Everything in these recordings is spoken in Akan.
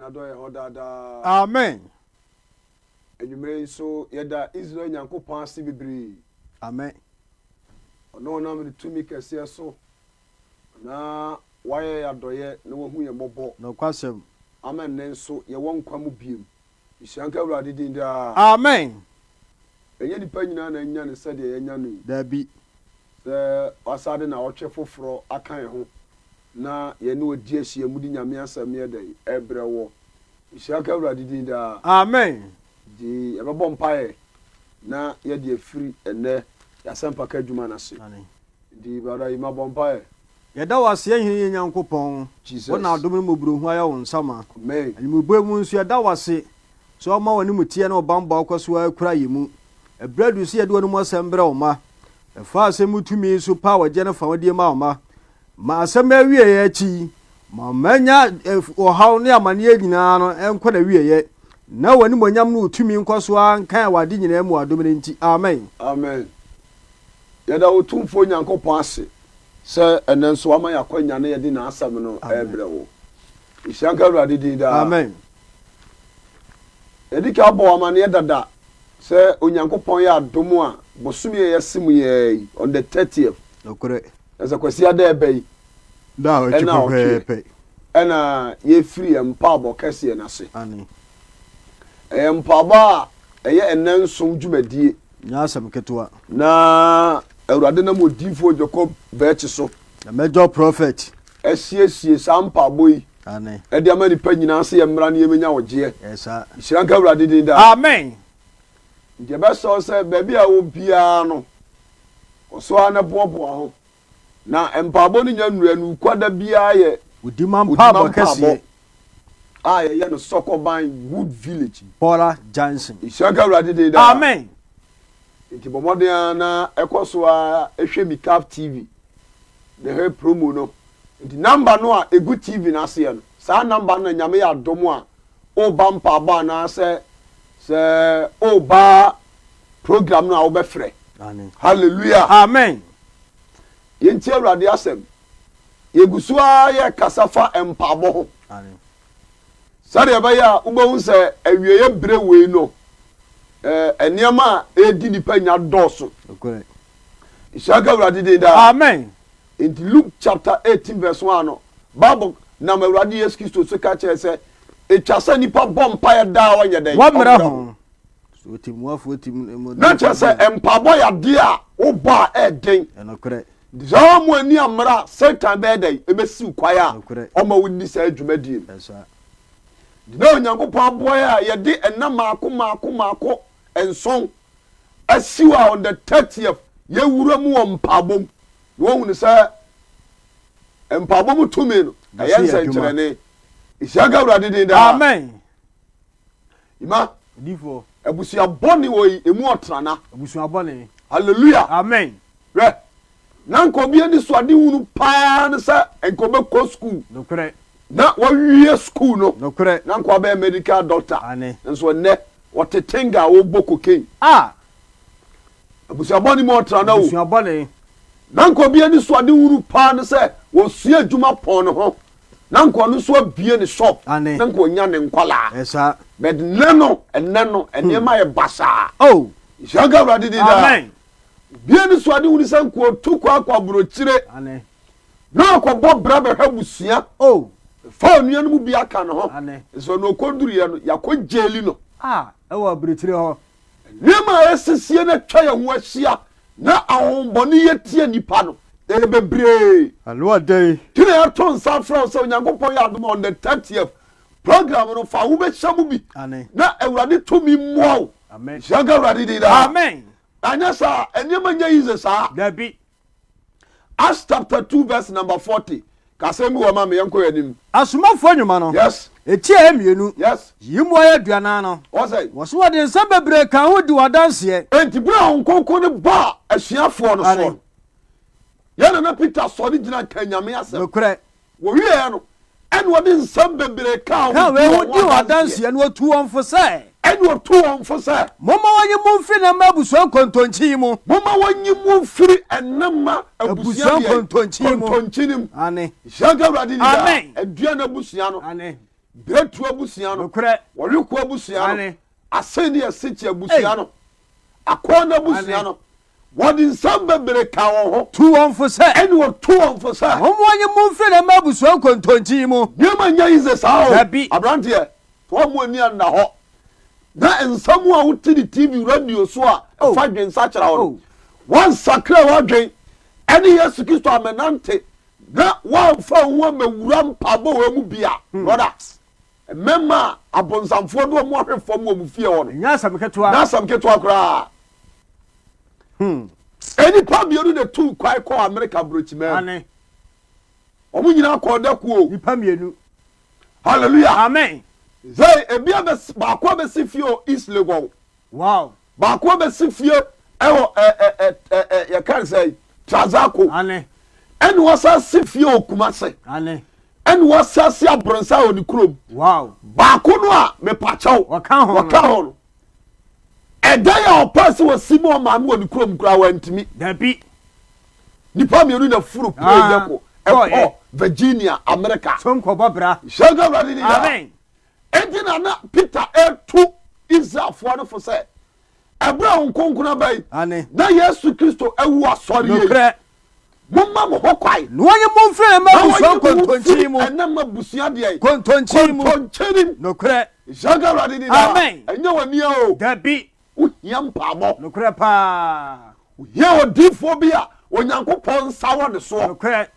N'adɔe yɛ hɔ daa daa. Amen. Anwummere yi nso, yɛda Israel Nyankopɔn ase bebree. Amen. Ɔno a ɔnam ne tumi kɛseɛ so na wayɛ yɛn adɔeɛ na wahu yɛn mmɔbɔ. Nokwasɛm. Ama nnɛ nso yɛwɔ nkwa mu biom. Nhyira nka Awurade din daa. Amen. Ɛnyɛ nnipa nyinaa na anya no sɛdeɛ yɛanya no yi. Dabi. Sɛ w'asa de naawɔtwe foforɔ aka yɛn ho na yɛne wɔ di ahyiamu de Nyame asɛm yɛ dɛn? Ɛbrɛ woɔ. Nhyira nka Awurade din daa. Amen. Nti yɛbɛbɔ mpaeɛ na yɛde afiri ɛnnɛ yɛasɛmpaka adwuma no ase. Nti brother Yima bɔ mpaeɛ. Yɛda wo ase Hene yɛn Nyankopɔn, wo na adom ne mmɔborɔhunu ayɛ wo nsa ma. Anwumebɔe mu nso yɛda wo ase sɛ woma w'animuteɛ ne wo bammɔ akɔ so ara kura yɛn mu. Ɛberɛ aduru sɛ yɛde w'anom asɛm brɛ wo mma. Ɛfa asɛm mu tumi yi so pa a wɔgye no fa wo die ma wo mma. Ma asɛm no awieɛ akyi yi, ma ɔma nya ɔhaw ne amaneɛ nyinaa no nkɔ n'awieɛ, na w'animuonyam ne wo tumi nkɔ so ara nkan wɔ ade nyinaa mu wɔ adom no nti. Amen. Amen. Yɛda Otumfoɔ Nyankopɔn ase sɛ ɛnnɛ nso wama yɛn akwanya na yɛde N'asɛm no rebrɛ wo. Nhyira nka Awurade din daa. Amen. Yɛadi kan abɔ wo amanneɛ dada sɛ Onyankopɔn yɛ adom a, bosome a yɛse mu yi ara yi, on the thirtieth, Nokorɛ. na sɛ Kwasia da a ɛba yi, Da a ɔtwe ɛna ɔtweɛ, pɛpɛɛpɛ. ɛna yɛrefiri yɛn mpaabɔ kɛseɛ no ase. Aane. Ɛyɛ mpaabɔ a ɛyɛ nnanson dwumadie. Nyɛ asɛm ketewa. Na Awurade nam odiyifoɔ Jacob Birch so. Na Major Prophet. Asiesie saa mpaabɔ yi. Aane. De ama nnipa nyinaa sɛ yɛmmra na yɛmmɛnya ɔgyeɛ. Ɛyɛ saa. Nhyira nka Awurade din daa. Amen. Nti yɛbɛsrɛ wo sɛ baabi a ɛwɔ biara no, kɔ so ara na boaboa ho. Na mpaabɔ no nya nnura no kwa da biara yɛ Odima mpaabɔ kɛseɛ. A yɛyɛ no Sɔkɔban Wood Village. Bɔla Junction. Nhyira nka Awurade din daa. Amen. Nti bɔ mmɔden ara na kɔ so ara hwɛ Mikaf TV ne her promo no. Nti number no a ɛgu TV no aseɛ no, saa number no na Nyame yɛ adom a Woreba mpaabɔ anaasɛ sɛ woreba program no a wobɛfrɛ. Hallelujah. Amen. Yɛntie Awurade asɛm. Yɛgu so ara yɛkasa fa mpaabɔ ho. Sɛdeɛ ɛbɛyɛ a wobɛhu sɛ awieɛ berɛ wei no, eh, nneɛma a ɛredi nipa nya dɔɔso. Nhyira ka Awurade din daa. Amen. Enti Luke chapter eighteen verse one no, Bible nam Awurade Yesu Kristo so ka kyerɛ sɛ etwa sɛ nipa bɔ mpaeɛ daa a ɔnyɛ dɛn? Wɔmmrɛ ho. Na kyerɛ sɛ mpaebɔ yɛ adeɛ a wobɔ a ɛyɛ den. Saa a mo ani ammra a Satan bɛyɛ dɛn? Ɛbɛsiw kwan a ɔma wonni saa dwumadie no. Na Onyankopɔn aboa yɛn a yɛde nna mmaako mmaako mmaako nson asiw a on the thirtieth. Yɛwura mu wɔ mpaabɔ mu na wɔhunu sɛ mpaabɔ mu tumi no ɛyɛ nsɛnkyerɛnne. Nhyira nka Awurade din daa. Amen. Ima. Odifoɔ. Abusua bɔne wɔ yi emu ɔtrana. Abusua bɔne. Hallelujah. Amen. Hwɛ, na anka obi anisoadehunu paa ne sɛ anka ɔbɛkɔ sukuu Nokorɛ. na wawie sukuu no, Nokorɛ. na anka wabɛyɛ medical doctor, Aane. nanso ɛnnɛ ɔte tenga a ɔrebɔ cocaine. Ah! Abusua bɔne mu ɔtra no o. Abusua bɔne. Na anka obi anisoadehunu paa ne sɛ ɔsua adwuma pɔn ne ho, na anka ɔno nso abue ne shop, Aane. na anka ɔnya ne nkwadaa. Ɛyɛ saa. But nnɛ no, ɛnnɛ no, nneɛma ayɛ basaa. Oh! Yɛhyira nka Awurade din daa. Amen. Obi anisoade hunu sɛ nkoa otu kɔ akɔ aburokyire na ɔkɔbɔ bra bɛhwɛ abusua. Oh. Fa onua no mu bi aka ne ho. Ane. Sɛ ɔno ɔkɔduruiɛ no, yɛakɔ gyeli no. A, ɛwɔ aburokyire hɔ. Nneɛma a ɛsisie na atwa yɛn ho ahyia na ahohommɔne yɛ tia nnipa no, ɛyɛ bebree. Ano adɛn? Nti na yɛato nsa afrɛ wo sɛ Onyankopɔn yɛ adom a on the 30th program no fa wobɛhyɛ mu bi na awurade tumi mmoa wo hyɛnka awurade din daa anyɛ saa nneɛma nyɛ yize saa dabi Acts chapter 2 verse number 40 kasɛm bi wɔ ma me yɛnkɔ yɛ anim asomafoɔ nnwuma no yes ɛtiaɛ mmienu yes yi mu ayɛ aduanan no wɔsɛ wɔso wɔde nsɛm bebree ka ho di wɔ adanseɛ enti berɛ a honkonko no baa asuafoɔ no soɔ no yɛn nana peter sɔre gyina ka nyame asɛm nokorɛ Wɔwieeɛ no, ɛnna wɔde nsɛm bebree kaa wɔn ho tuu wɔn ho adanseɛ. Ɛnna wɔtuu wɔn fo sɛ. Ɛnna wɔtuu wɔn fo sɛ. Momma wɔnyi mo mfiri ne mma abusua nkontonkyi yi mu. Momma wɔnyi mo mfiri ne mma abusua deɛ? Kontonkyi no mu. Aane. Nhyira nka Awurade ni daa. Aduane abusua no. Aane. Berɛtuo abusua no. Nokorɛ. Wɔwekoɔ abusua no. Aane. Asɛnni asikyi abusua no. Akɔɔna abusua no. Wɔde nsɛm bebree kaa wɔn ho. Tuu wɔn fo sɛ. Ɛnna wɔtuu wɔn fo sɛ. Mommoa yɛn mu mfiri dɛm abusua nkontonkyi yi mu. Nneɛma nyɛ yize saa o. Dabi. Aberanteɛ, toa mu ani anna hɔ, na nsɛm a wote ne TV, radio so a ɛfa adwene sakyera ho no, woansakra w'adwene ne Yesu Kristo ammɛnante, na woamfa wo ho ammɛwura mpaebɔ wei mu bi a, brɔda, Mmɛmma a abonsamfoɔ de wɔn ahwe fam wɔ mo fie hɔ no. Ɛnyɛ asɛm ketewa. Ɛnyɛ asɛm ketewa koraa. Nnipa mmienu na tuu kwan kɔɔ Amerika Aburokyimaa mu. Wɔn nyinaa kɔɔ dakuo. Nnipa mmienu. Hallelujah. Amen. Hey, ebi baako abɛsi fie o East Legon. Wow. Baako abɛsi fie ɛwɔ ɛ ɛ ɛ ɛ ɛ yɛ kan sɛ yi Trazako. Ane. Ɛna wasa si fie wɔ Kumase. Ane. Ɛna wasa si Abronsa wɔ ne kurom. Wow. Baako no a mepakyɛw. Wɔka ho. Wɔka ho no. Ɛdan a ɔpɛ sɛ wɔsi ma ɔmaa no wɔ ne kurom koraa wantumi. Dabi. Nipa mmienu na furu plane dɛ ko ɛkɔ Virginia America. So nkɔbɔ bra. Hyɛn awurade ni da. Amen. Enti na na Peter retu Israelfoɔ no fo sɛ, Ɛberɛ a Honhom Kronkron aba yi, na Yesu Kristo awu asɔre yei, momma mo ho kwan, na wɔnyi mo mfiri ɛnam abusua nkontonkyi mu, ɛnam abusua deɛ, nkontonkyi mu, nkontonkyi mu, nokorɛ, yaga awurade ni daa, ɛnyɛ wɔn nia o, dabi, wohia mpaabɔ, nokorɛ paa, wohia odiifoɔ bi a Onyankopɔn nsa wɔ ne soɔ, nokorɛ,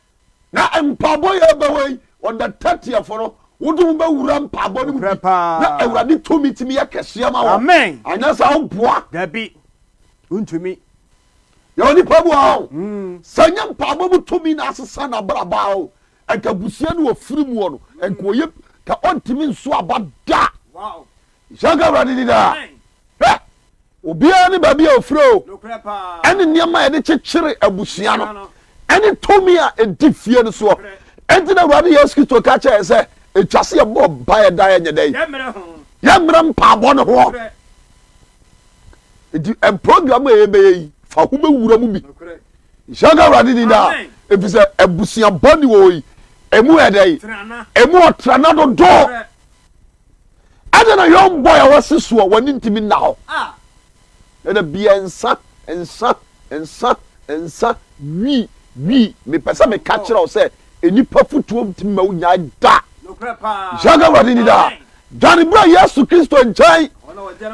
Na mpaabɔ yɛ bɛ wɔ yi, on the thirtieth no, wo de wo bɛ wura mpaabɔ no mu bi, na Awurade tumi tumi yɛ kɛseɛ ma wɔ, anyɛ saa wo boa. Dabi, ntumi. Yɛ wɔ nipa bu aho, hmm. sɛ nyɛ mpaabɔ mu tumi na asesa na abraba o, ɛka busua no wɔ firi mu wɔ no, ɛnka ɔyɛ, ka ɔntumi nso aba da. Wow. Nhyira nka Awurade din daa. Hwɛ! Obiara ne baabi a ofiri o, ɛne nneɛma a yɛde kyekyere abusua no, ɛne tumi a edi fie no soɔ. Enti na Awurade Yesu Kristo ka kyerɛ yɛn sɛ, etwa sɛ yɛbɔ mpaeɛ daa yɛnyɛ dɛ yi. Yɛmmerɛ mpaabɔ no ho. Enti program a yɛbɛyɛ yi, fa ho bɛwura mu bi. Nhyira nka Awurade din daa. Ɛfiri sɛ abusua bɔ ne wɔ yi, ɛmu yɛ dɛ yi, ɛmu ɔtrana dodo. Adɛn na young boy a wasi so a w'ani ntumi nna hɔ na da biara nsa, nsa, nsa, nsa, wi, wi, mepɛ sɛ meka kyerɛ wo sɛ nnipa fotuo ntumi mma wo nyae da. Hyɛnka Awurade ni daa. Dwane bra Yesu Kristo nkyɛn,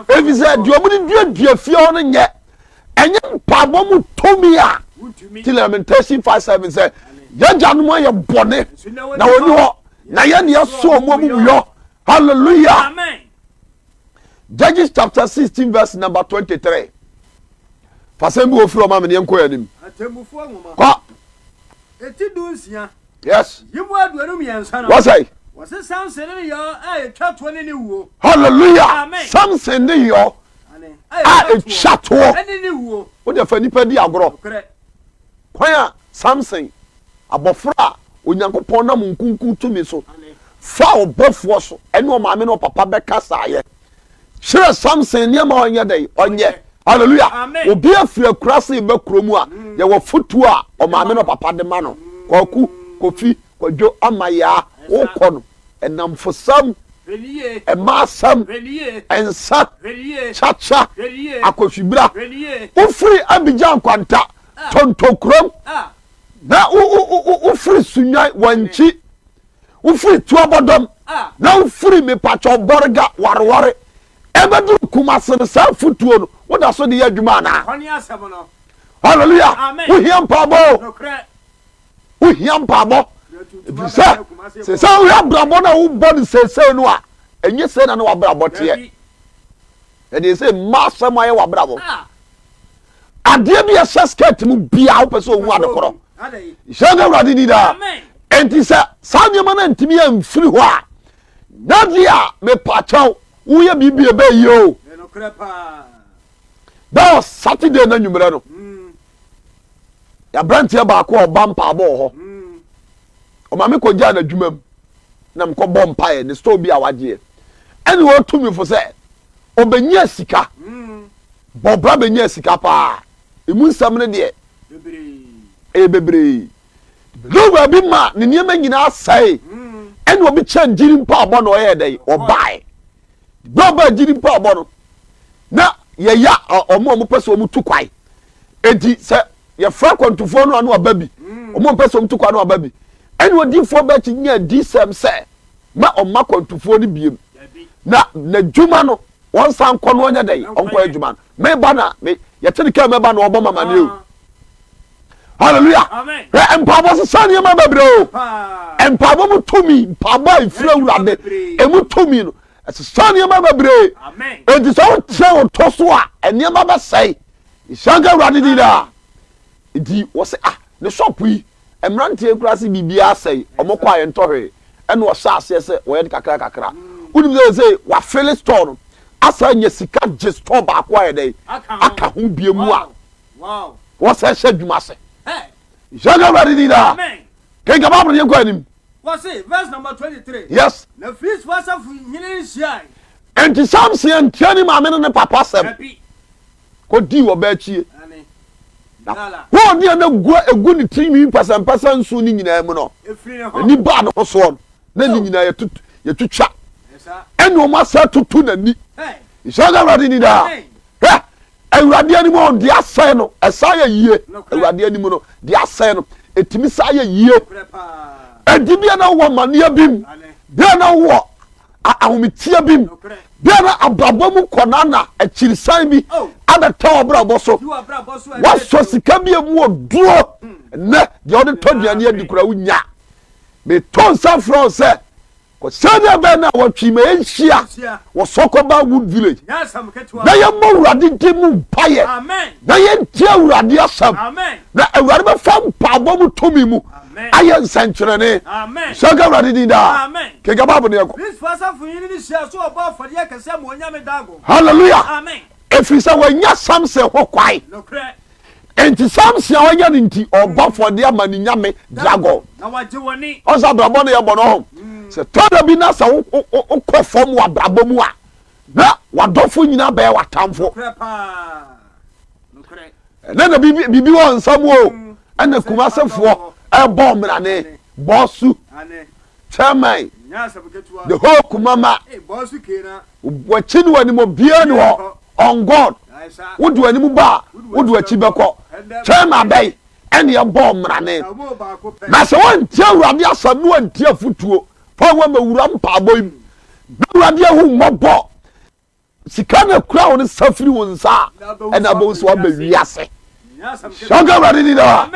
ɛfiri sɛ deɛ wɔde duadua fie hɔ no nyɛ ɛnyɛ mpaebɔ mu tumi a ti lamentation five seven sɛ yɛgyanom ayɛ bɔne na wɔni hɔ na yɛn deɛ so wɔn amumuyɔ hallelujah judges chapter sixteen verse number twenty three fasɛn bi wɔ firi ɔma mi ni yɛn kɔ yɛn anim kɔ. Yes. Yi mu aduonu mmiɛnsa no. Wɔsɛe. Wɔse Samson ne yɔɔ a etwa toɔ ne ne wuo. Hallelujah. Amen. Samson ne yɔɔ a etwa toɔ ne ne wuo. Wo deɛ fa nipa di agorɔ. Nokorɛ. Kwan a Samson, abɔfra a Onyankopɔn nam nkunkun tumi so faa ɔbɔfoɔ so ɛne ɔmaame ne ɔpapa bɛkasaeɛ. kyerɛ samson nneɛma a ɔnyɛ dɛn ɔnyɛ hallelujah obi afiri akura se ba kurom a mm. yɛwɔ fotuo a ɔmaame no papa de ma no kwaku kofi kwadwo amayaa wokɔ no ɛnamfosɛm ɛmaasɛm ɛnsa kyakya akɔfibira wofiri abigya nkwanta ah. tontokurom ah. na wofiri sunwan wankyi wofiri tuabɔdɔm na wofiri mepatwɔ bɔrega wareware ɛbɛduru kumase no saa afotuo no woda so de yɛ adwuma anaa hallelujah wohia mpaabɔ wohia mpaabɔ ɛfiri sɛ sɛ sɛ wohwɛ abrabɔ no a wobɔ no seesei no a ɛnyɛ sɛ na ne wabrabɔ teɛ ɛdeɛ sɛ mma asɛm ayɛ wabrabɔ adeɛ bi ɛhyɛ skirt mu biaa wopɛ sɛ owu ade korɔ hyɛ no awurade di daa enti sɛ saa nneɛma no ntumi amfiri hɔ a nade a mepakyɛw woyɛ biribi ɛbɛyie o that was saturday na nwummerɛ no mm. yɛaberanteɛ baako a ɔba mpaabɔ wɔ hɔ mm. ɔma me kɔgyaa n'adwuma mu na mekɔbɔ mpaeɛ ne store bi a wagyeɛ ɛne wɔtumi fo sɛ ɔbɛnya sika mm. Bɔ bra bɛnyaa sika paa. Ɛmu nsɛm no deɛ ɛyɛ bebree. Duru baabi ma ne nneɛma nyinaa sɛe ɛna obi kyɛ gyiri mpaabɔ na ɔyɛ dɛn ɔbae. Bra ɔbaa gyiri mpaabɔ no na yɛya ɔmo a ɔmo pɛ sɛ ɔmo tu kwae. Eti sɛ yɛfrɛ akwantufoɔ no ano aba bi ɔmo a ɔmo pɛ sɛ ɔmo tu kwae no aba bi ɛna odiifoɔ bɛkye nya adisɛm sɛ ma ɔma akwantufoɔ no biem na n'adwuma no Wɔnsan nkɔ no ɔnyɛ dɛn ɔnkɔ adwuma no meba na me yɛte ne kaa mɛba na ɔbɔ mamane o hallelujah hwɛ mpaabɔ sesa nneɛma bebree o mpaabɔ mu tumi mpaabɔ a efiri awurade emu tumi no ɛsesa nneɛma bebree eti sɛ wokyerɛ wo to so a nneɛma bɛsɛe nhyɛnka awurade di daa nti wɔsɛ ah ne sɔpo yi Mmeranteɛ nkuraase biribiara sɛe, wɔn kɔ a yɛntɔ hwee, ɛna wɔhyɛ aseɛ sɛ wɔyɛ no kakra kakra. Wonim sɛ seesei wɔafele store no asan anya sika gye store baako ayɛ dɛn aka ho bio mu a wɔsan hyɛ adwuma ase. Hyɛ nka Awurade din daa. Kenkan Bible no, yɛnkɔ anim. Wɔse, verse number twenty three. Yes. Na Filistifo asafo hene nhyiae. Enti Samson antie ne maame ne ne papa asɛm. Dabi. kɔdii ɔbaa akyie. Na hoo deɛ na gua ɛgu ne tirinwi mpasampasa nson no nyinaa mu no, n'ani baa ne ho soɔ no, na ne nyinaa yɛtwitwa, ɛne wɔn asa tutu n'ani. Nhyɛ nka Awurade ni daa. Hwɛ, Awurade anim ɔn deɛ asɛe no, ɛsa yɛ yie. Awurade anim no, deɛ asɛe no, ɛtumi sa yɛ yie. Ɛdi bia na wowɔ amaneɛ bi mu, bia na wowɔ ahometeɛ bi mu bia na abrabɔ mu nkɔnaa na akyirisan bi oh. abɛtɔ abrabɔ so wasɔ sika bi mu wɔ duro hmm. nnɛ deɛ ɔde tɔ duane adi kora wonya metɔ nsa frɛ sɛ sɛdeɛ bɛn no a wɔtwe ma ɛnhyia wɔ sɔkɔba wood village na yɛmmɔ awurade de mu mpayɛ na yɛntie awurade asɛm na awurade bɛfa mpaabɔ mu tumi mu ayɛ nsɛnkyerɛnne. Nhyira nka Awurade din daa. Kenka Bible no yɛkɔ. Hallelujah. Ɛfiri sɛ wɔanya Samson ho kwae. Enti Samson a wɔanya no nti ɔbɔ afɔdeɛ ama ne nyame dragon. Ɔsɛ abrabɔ no yɛbɔ no ɔho. Mm. Sɛ tɔda bi na sɛ wokɔ fam wɔ abrabɔ mu a Na w'adɔfo nyinaa bɛyɛ w'atamfo. Ɛnɛ na biribi wɔ nsa mu o. Mm. Ɛna Kumasefoɔ ɛbɔ mmerane bɔsu chairman the whole Kumama wɔkyi no anim obiara ni hɔ on God wodo anim ba a wodo akyi bɛkɔ chairman bɛyi ɛne ɛbɔ mmerane na sɛ wɔntie awurade asɛm no wɔntie afotuo Paul wɔ ma wura mpaabɔ yi bɛwurade ahu mmɔbɔ sika na kura wɔn nsa firi wɔn nsa ɛna abɔ nso abɛ wiase hyɛnka awurade ni daa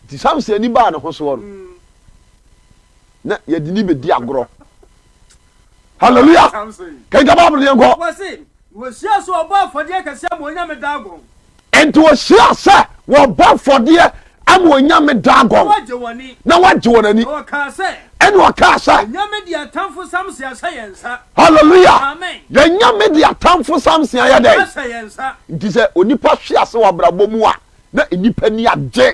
nti samson ani baa ne ho soɔ no na yɛde ni bɛdi agorɔ hallelujah kɛnka baabolo yɛn kɔ Wɔhyiaa sɛ wɔbɔ afɔdeɛ kɛseɛ ama onyame Dagon. Enti wɔhyiaa sɛ wɔbɔ afɔdeɛ ama onyame Dagon, na wɔagye wɔn ani. Ɛnna wɔkaa sɛ. Yɛn nyame de atamfo Samson ahyɛ yɛn nsa. Hallelujah! Yɛn nyame de atamfo Samson ayɛ dɛn? Ahyɛ yɛn nsa. Nti sɛ onipa hwe ase wɔ abrabɔ mu a, na nnipa ani agye.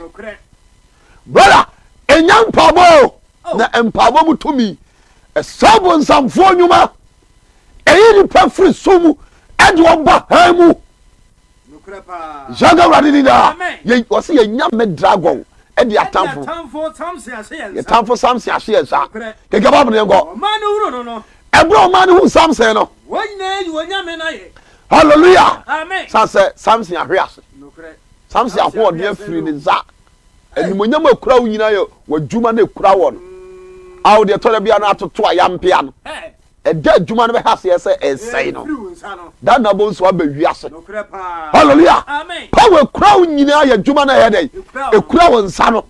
Brother, ɛnyɛ mpaabɔ o, na mpaabɔ mu tumi. Ɛsɛ abonsamfoɔ nnwuma. Eyi nipa firi sum mu ɛde wɔn ba hann mu. Yaga awurade ni naa. Wɔsi yɛ nya mɛ dragon ɛde atamfo. Yɛ tamfo samson ahye yɛn saa. Keke baabu yɛn kɔ. Ɛbúrò ɔmaa ni hu samson no. Hallelujah. Sasɛ samson ahwe ase. Samson ahoɔden afiri ne nsa. Animuonyam a ɛkura wo nyinaa yɛ w'adwuma na ɛkura wɔ no. Ao, deɛ ɛtɔ da bi a na atoto ayampea no, ɛda a adwuma no bɛhɛ aseɛ sɛ ɛresɛe no, da na abɔ nso aba wiase. Hallelujah! Hɔ a ɛkura wo nyinaa yɛ adwuma na ɛyɛ dɛ, ɛkura wo nsa no.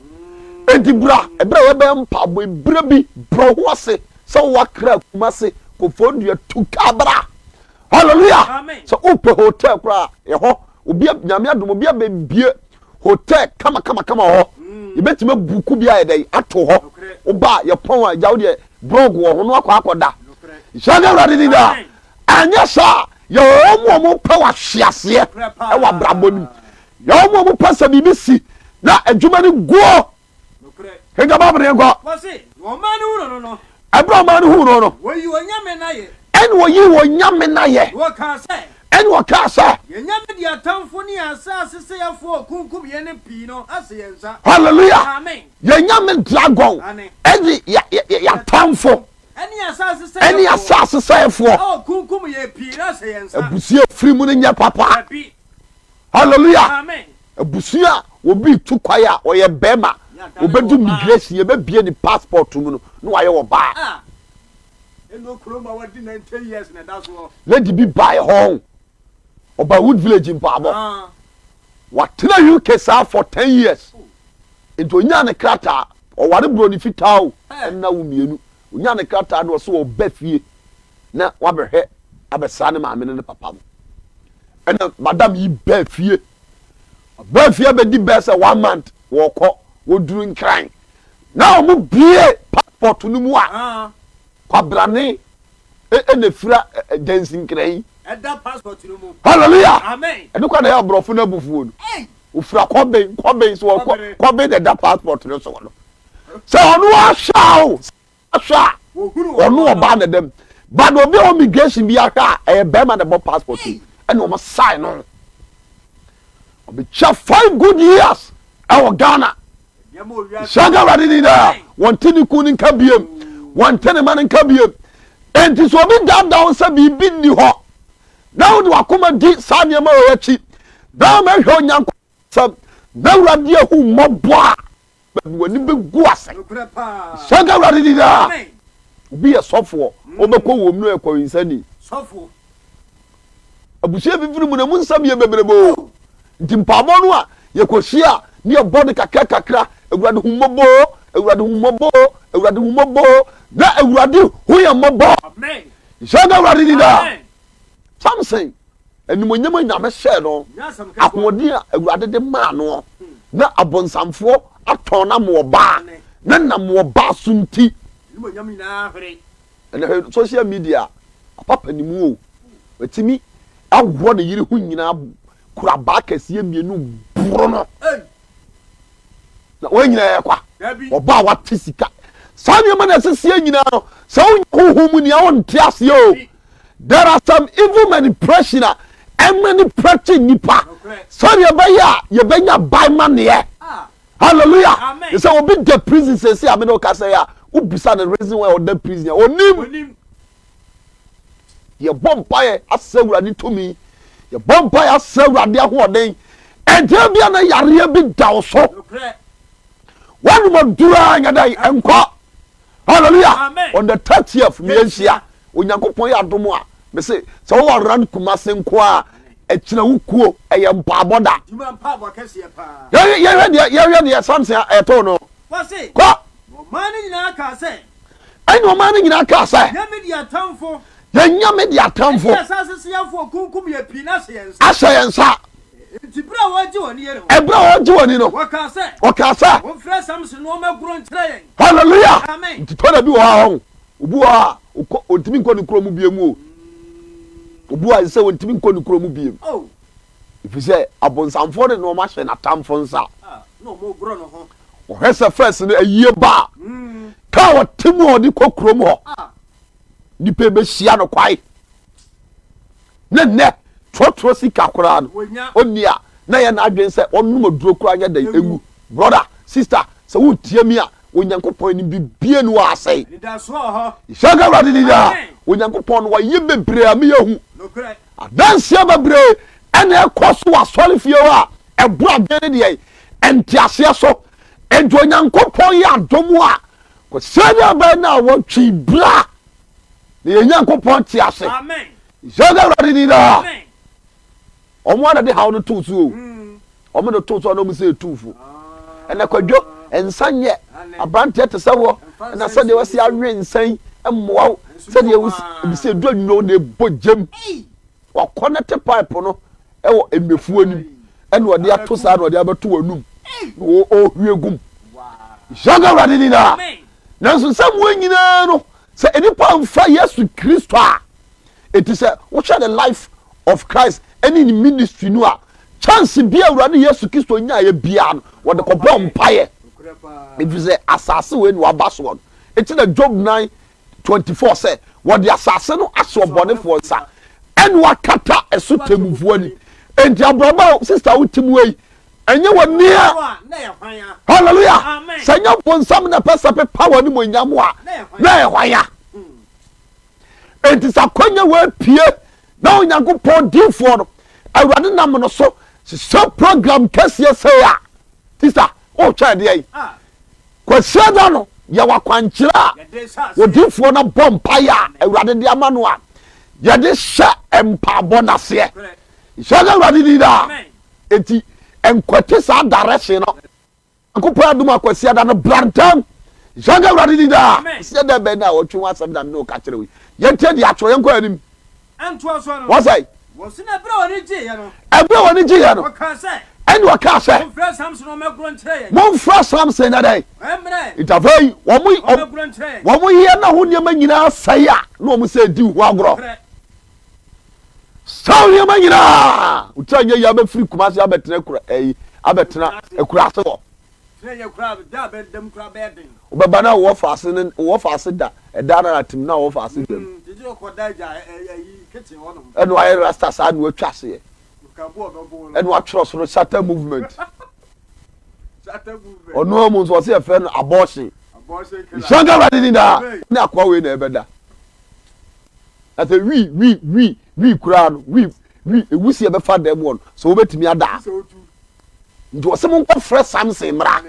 Enti bra, ɛberɛ a yɛbɛyɛ mpaabɔ, ɛberɛ bi brɛ ho ase sɛ wowɔ akra kuma ase, kɔfɔɔ nnua tu ka bra. Hallelujah! Sɛ wopɛ hotel koraa, ɛhɔ, obi nyame adom, obi abɛbie Hotel kamakamakama wɔ hɔ. Yɛbɛtumi abuku bi ayɛ dɛn ato hɔ. Woba a yɛpɔn a agya wo deɛ brɔg wɔ ho no akɔ akɔda. Nhyɛ ne awurade din daa. Anyɛ saa yɛwɔ wɔn a wɔpɛ wahweaseɛ wɔ abrabɔ no mu. Yɛwɔ wɔn a wɔpɛ sɛ biribi si na adwuma no guo. Kenka Bible no yɛnkɔ. Ɛberɛ a ɔman no huu no no, ɛne wɔyii wɔn nyame no ayɛ, ɛne wɔkaa sɛ, Hallelujah! Yɛn nyame dragon ɛne yɛatamfo ɛne asase sɛefoɔ. Abusua firi mu no nyɛ papa. hallelujah abusua a obi tu kwae a ɔyɛ bɛrima obɛdu migration yɛbɛbie ne passport mu no na wayɛ wɔ baa ah. lady bi bae hɔ ɔba wood village mpaabɔ ah. watena uk saa for 10 years oh. nti ɔnyaa ne krataa ɔware borɔ ne fitaa o ɛnna wo mmienu Onyaa ne krataa no ɔse ɔɔba fie na wabɛhwɛ abɛsra ne maame ne ne papa no. Ɛna madam yi baa fie. Ɔbaa fie abɛdi bɛɛ sɛ one month wɔɔkɔ wɔduru nkran na ɔmo bie passport no mu a kwabrane ɛna efira dansi nkran yi. Ɛda passport no mu. Hallelujah. Amen. Ɛno kwa na ɛyɛ aborɔfo no abufuo no. Ofira kɔben kɔben so ɔkɔ kɔben na ɛda passport no so no. sɛ ɔno ahwɛ a o ahwɛ a ɔno ɔbaa na dɛm but obi a wɔ migration bi ahwɛ a ɛyɛ bɛrima na ɛbɔ passport yi ɛna wɔn sign no ɔbɛkyɛ five good years ɛwɔ ghana hyɛnka awurade ni na wɔn ti ne kun ne nka biem wɔn ti ne ma ne nka biem nti sɛ obi daadaa wɔn sɛ biribi nni hɔ na wɔde wakoma di saa nneɛma wɔ akyi na wɔn ahwɛ onyanko. Sɛ na Awurade ahu mmɔbɔ a, baabi w'ani bɛgu ase. Sɛ nka Awurade di daa. Obi yɛ sɔfoɔ, ɔbɛkɔ wɔm no yɛ kɔwensani. Abusua fifiri mu no, ɛmu nsɛm yɛ bebrebe o. Nti mpaabɔ no a yɛkɔhyia a, ne yɛbɔ no kakra kakra. Awurade hu mmɔbɔ o, Awurade hu mmɔbɔ o, Awurade hu mmɔbɔ o. Na Awurade hu yɛn mmɔbɔ. Sɛ nka Awurade di daa. Samson, animuonyam a Nyame hyɛɛ no, ahoɔden a Awurade de maa no, na abonsamfoɔ atɔn no ama ɔbaa, na nam ɔbaa so nti, animuonyam nyinaa hwere. Ɛnɛ hwɛ social media, apapa ne mu o, watumi aworɔ ne yere ho nyinaa, kura abaa kɛseɛ mmienu boro no, na wɔn nyinaa yɛ kwa, ɔbaa wate sika. Saa nneɛma na ɛseseɛ nyinaa no, sɛ wonyɛ honhom mu nea wonte aseɛ o, There are some evil manipulation a ɛmanipulate nnipa sɛdeɛ ɛbɛyɛ a yɛbɛnya ban ma neɛ. Hallelujah. Te sɛ obi da prison sɛsi a mene ɔkasa yi a wobisa no reason why ɔda prison a ɔnim. Yɛbɔ mpaeɛ asɛ awurade tumi. Yɛbɔ mpaeɛ asɛ awurade ahoɔden. Ɛdeɛ bia na yareɛ bi da wo so. Wɔnom adura nyɛ dɛn nkɔ. hallelujah Amen. on the thirtieth mi yɛn hyia onyankopɔn yɛ adom a me se sɛ wɔwɔ aran kumase nko a ɛkyerɛ wo kuo ɛyɛ mpaabɔ da Juma mpa bɔ kɛseɛ paa. yɛhwɛ yɛhwɛ deɛ yɛhwɛ deɛ samson a ɛtoo no Wɔse, kɔ na ɔman no nyinaa kaa sɛ, ɛna ɔman no nyinaa kaa sɛ yɛn mi di atamfo, yɛn nyame de ɛne atamfo yɛn asase so yɛfoɔ kunkum yɛ pii na ahyɛ yɛn nsa. ahyɛ yɛn nsa Enti bere a wɔregye wɔn ani yɛ no. Ɛberɛ a wɔregye wɔn ani no. Wɔkaa sɛ. Wɔkaa sɛ. Momfrɛ Samson na ɔmmɛgoro nkyerɛ yɛn. Hallelujah! Amen. Nti tɔ da bi wɔ hɔ a ɔho. Obi wɔ hɔ a ɔkɔ ɔntumi nkɔ ne kuro mu biem o. Obi wɔ hɔ a ɛsɛ sɛ ɔntumi nkɔ ne kuro mu biem. Oh. Ɛfiri sɛ abonsamfoɔ de nnoɔma hyɛ n'atamfo nsa. Ah, na wɔregoro ne ho. Wɔhwɛ sɛ first no ayie ba a. Mm. Kaa ɔte mu a ɔde kɔ kurom hɔ. Ah. Nipa bɛhyia no kwae. Na nnɛ, torɔtorɔ sika koraa no, ɔnni a na ɛyɛ n'adwene sɛ ɔnom aduro koraa nyɛ dɛn nwu. Brɔda, sista, sɛ woretie me a, Onyankopɔn anim biribiara nni hɔ a asɛe. Nhyira nka Awurade din daa. Onyankopɔn no, wayɛ bebree a me yɛhu. Adanseɛ bebree ɛna ɛkɔ so wɔ asɔrefie hɔ a ɛboro adwene ne deɛ ɛnteaseɛ so. Enti Onyankopɔn yɛ adom a, kɔsɛɛ ne abɛn na wɔtwe bra. na yɛn nyankopɔn te ase sɛ na awurade ni daa ɔmo ana de haw no too so o ɔmo de too so ana ɔmo sɛ ɛtumfo ɛna kwadwo nsa nyɛ aberanteɛ te sɛ wɔ ɛna sɛdeɛ wasi awe nsa yi mmoa wo sɛdeɛ wobisɛ du anwuo na ɛbɔ gyam Wakɔnɛte pipe no wɔ nnuafuo anim ɛna ɔde ato saa na ɔde abɛto w'anum na ɔhwie gum yɛnka awurade ni naa nanso nsɛm wɔ nyinaa no sɛ nipa nfa yesu kristo a ɛti sɛ wohwɛ the life of christ ɛne ne ministry no a chance bi a awurade yesu kristo nyaeɛ biara no wɔde kɔbɔ mpaeɛ ɛfiri sɛ asase wei ne waba soɔ no ɛti na job 9 twenty four sɛ, Wɔde asase no ahyɛ ɔbɔnefoɔ nsa, ɛna wɔakata ɛso temmufoɔ anim. Enti abraba a sista wote mu yi, ɛnyɛ w'anua. Hallelujah! Sɛ ɛnyɛ bonsam na ɛpɛ sɛ pepa w'animuonyam a, na ɛyɛ hwan a? Enti sɛ akwanya wɔapue na Onyankopɔn difoɔ no, Awurade nam no so hyehyɛ program kɛseɛ sɛ a, sista, wotwɛn deɛ yi. Kwasiada no yɛwɔ akwankyerɛ a odiyifoɔ no bɔ mpaeɛ a Awurade de ama no a yɛde hyɛ mpaabɔ no aseɛ. Nhyɛ no Awurade din daa. Enti nkwati saa direction no. Nyankopɔn adom a Kwasiada no bra ntɛm. Nhyɛ no Awurade din daa. Kwasiada bɛn na ɔtwe ho asɛm na mene wo ka kyerɛ wo yi? Yɛntie deɛ atwerɛ, yɛnkɔ anim. Wɔsɛe. Ɛberɛ a wɔne gyeeɛ no, ɛnna ɔkaa sɛ, Momfrɛ Samson na dɛn? Nti afei wɔn yɛ na ho nneɛma nyinaa sɛe a na wɔn sɛ di ho agorɔ. Saa nneɛma nyinaa wotira nyɛ yɛ abɛfiri Kumasi abɛtena kura ɛyi abɛtena Akurase hɔ. Tena yɛ koraa da a bɛ dam koraa bɛyɛ den. Wobɛba na wowɔ faase ne wowɔ faase da ɛda no ara tim na wowɔ faase dam. Mm gyegye ɔkɔ da agya ɛ ɛ ayi kitchen hɔ nom. Ɛna wayɛ rasta saa na watwa aseɛ. Nka bu ɔdɔ boo no. Ɛna watwerɛ so no shatter movement. Shatter movement. Ɔno ara mu nso ɔse yɛfrɛ no abortion. Abortion killer. Nhyira nka Awurade din daa. Amen. Ne akoa wei na ɛbɛda. Na sɛ wii wii wii wii koraa no wii wii ewusie bɛfa dɛm wɔ no sɛ wobɛtumi ada a. Gye sɛ wotu. Nti ɔse monkɔ frɛ Samson mmra.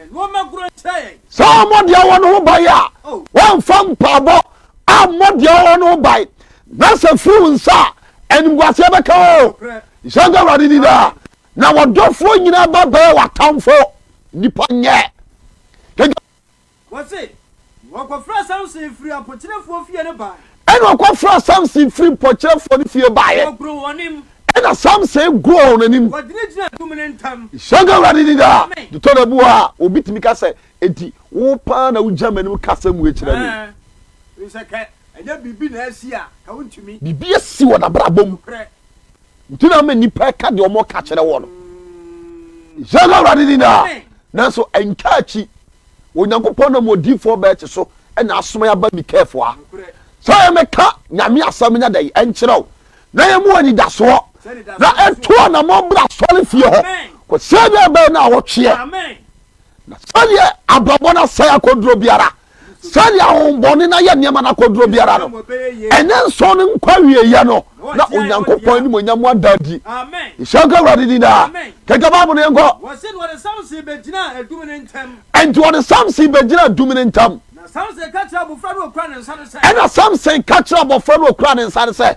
Sɛ ɔmmɔ deɛ ɔwɔ no ho ban a, wɔmfa mpaabɔ ammɔ deɛ ɔwɔ no ho ban. Na sɛ firi wo nsa a, animguaseɛ bɛka o. Nhyɛ nka Awurade ni daa. Na wɔdɔfoɔ nyinaa ba bɛyɛ w'atamfoɔ. Nipa nyɛ. Wɔse, Wɔkɔfrɛɛ Samson firii apokyerɛfoɔ fie no baeɛ. Ɛna wɔkɔfrɛɛ Samson firii mpɔkyerɛfoɔ no fie baeɛ. Wɔgoroo wɔn anim. Ɛna Samson goroo wɔn anim. Wɔgyinagyinaa adum no ntam. Hyɛ nka Awurade din daa. Amen. Dotɔ da bi wɔ hɔ a, obi tumi ka sɛ, Enti wo paa na wogyina m'anim ka asɛm wei kyerɛ me? Ɛɛ, ɛfiri sɛ ka ɛnyɛ biribi na asi a, ka wontumi. Biribi asi wɔ n'abrabɔ mu. Nokorɛ. Gyina ma nnipa ɛka deɛ wɔn ka kyerɛ wɔn no. Yɛn awurade ni na nanso ɛntwa akyi. Onyankopɔn nam odiifoɔ bɛɛkye so ɛna asoma yɛ aba Mikaelfoɔ a. Sɛ yɛ mɛka nyame asɛm nyɛ dɛ ɛnkyerɛw na yɛ mu anidasoɔ na ɛto anamɔ bra sɔre fie hɔ kɔsɛ deɛ ɛbɛyɛ na awɔtweɛ na sɛdeɛ abrabɔ no asɛe akɔduro biara sɛdeɛ ahombɔne no ayɛ nneɛma no akɔduro biara no ɛnyɛ nsɔn no nkɔ awieɛ no na onyankopɔn anim ɔnya mu ada adi nhyɛ nka awurade din daa kɛkɛ bible no yɛnkɔ ɛnti wɔde samson bɛgyina adum no ntam ɛna samson ka kyerɛ abɔfra no ɔkura ne nsa no sɛ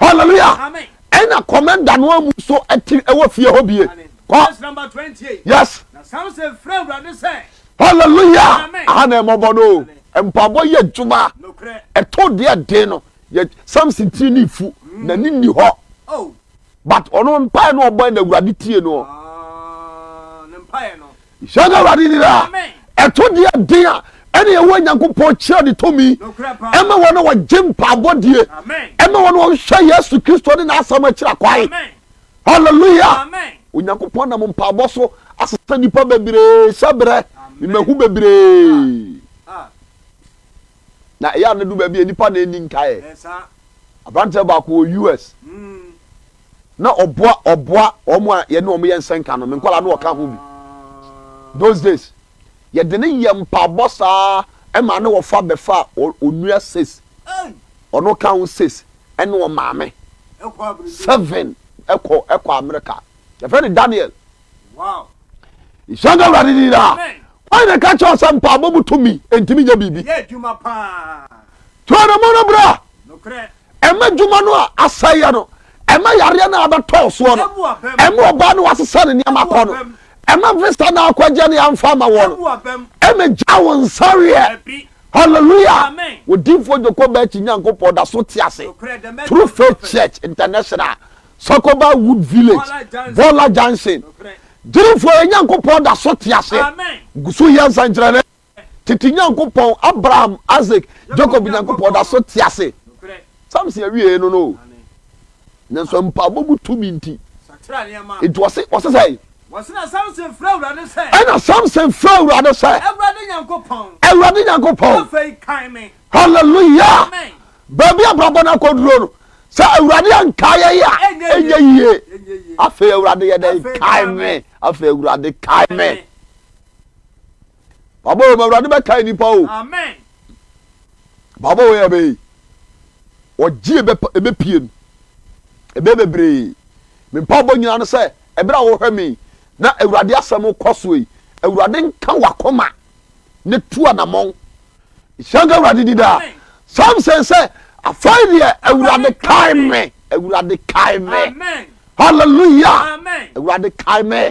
Hallelujah. Amen. Ɛna kɔmɛnda no amu so ɛte ɛwɔ fie hɔ bie. Amen. Kɔ. Verse number 28. Yes. Na Samson frɛ Awurade sɛ. Hallelujah. Amen. Aha na ɛmɔbɔ no. Amen. Mpaabɔ yɛ adwuma. Nokorɛ. Ɛto deɛ den no. Yɛ Samson tiri ne fu. Mm. Na ne nni hɔ. Oh. But ɔno mpae no ɔbɔ na Awurade tie no. Ah, ne mpae no. Hyɛ no Awurade nira a ɛto deɛ den a ɛne ɛwɔ Nyankopɔn kyerɛ ne tumi ɛma wɔn a wɔgye mpaabɔ die ɛma wɔn a wɔhwɛ Yesu Kristo ne n'asɛm akyira kwae hallelujah Onyankopɔn nam mpaabɔ so asesa nipa bebree hyɛ berɛ mmahu bebree na ɛyɛ a ne do baabi a nipa na ɛni nkaeɛ aberanteɛ baako wɔ US hmm. Na ɔboa ɔboa wɔn a yɛne wɔn yɛ nsɛnka no. Me nkwadaa no ɔka ho bi. Those days, yɛde no yɛ mpaabɔ saa ɛma ne wɔfa bɛfa onua sis, ɔno ka ho sis ɛne wɔn maame seven ɛkɔ ɛkɔ America. Yɛfrɛ no Daniel. Nhyira nka Awurade din daa. Wɔn na ɛka kyerɛ sɛ mpaabɔ mu tumi ntumi nyɛ biribi. Tuo ne mo no bra. Ɛma adwuma no a asɛeɛ no. Ɛma yareɛ no a abɛtɔɔ soɔ no. Ɛma ɔbaa no a wasesa ne nneɛma kɔ no. Ɛma visa no a akɔgye no yɛamfa ama woɔ no. Ɛma gya wo nsa weɛ. Hallelujah! Odiifoɔ Joko Bɛɛkyi Nyankopɔn da so te ase. True Faith Church International, Sakoba Wood Village, Bɔla Junction. Gyidifo, yɛn Nyankopɔn da so te ase. Gu so yɛ nsɛnkyerɛnne. Tete Nyankopɔn, Abraham, Isak, Jakob Nyankopɔn da so te ase. Samson awiei no no o. Nanso mpaebɔ mu tumi nti. Enti wɔse, wɔse sɛn? Ɛna Samson frɛ Awurade sɛ. Ɛna Samson frɛ Awurade sɛ. Awurade Nyankopɔn. Awurade Nyankopɔn. Afei kan me. Hallelujah. Amen. Baabi abrabɔ no akɔduro no, sɛ Awurade anka yɛn a, ɛnyɛ yie. Afei Awurade yɛ dɛn? Kae me. Afei Awurade kae me. Baba wei ma awurade bɛkae nipa o. Baba wei ɛbɛyi. Wɔgye ebe ebe pie no. Ebe bebree. Me mpaabɔ nyinaa no sɛ ɛberɛ a wɔhwɛ me na awurade asɛm kɔ so yi. Awurade nka wakoma ne tu anamɔn. Nhyɛ nka awurade di daa. Samson sɛ afei deɛ awurade kae me. Awurade kae me. Hallelujah. Awurade kae me.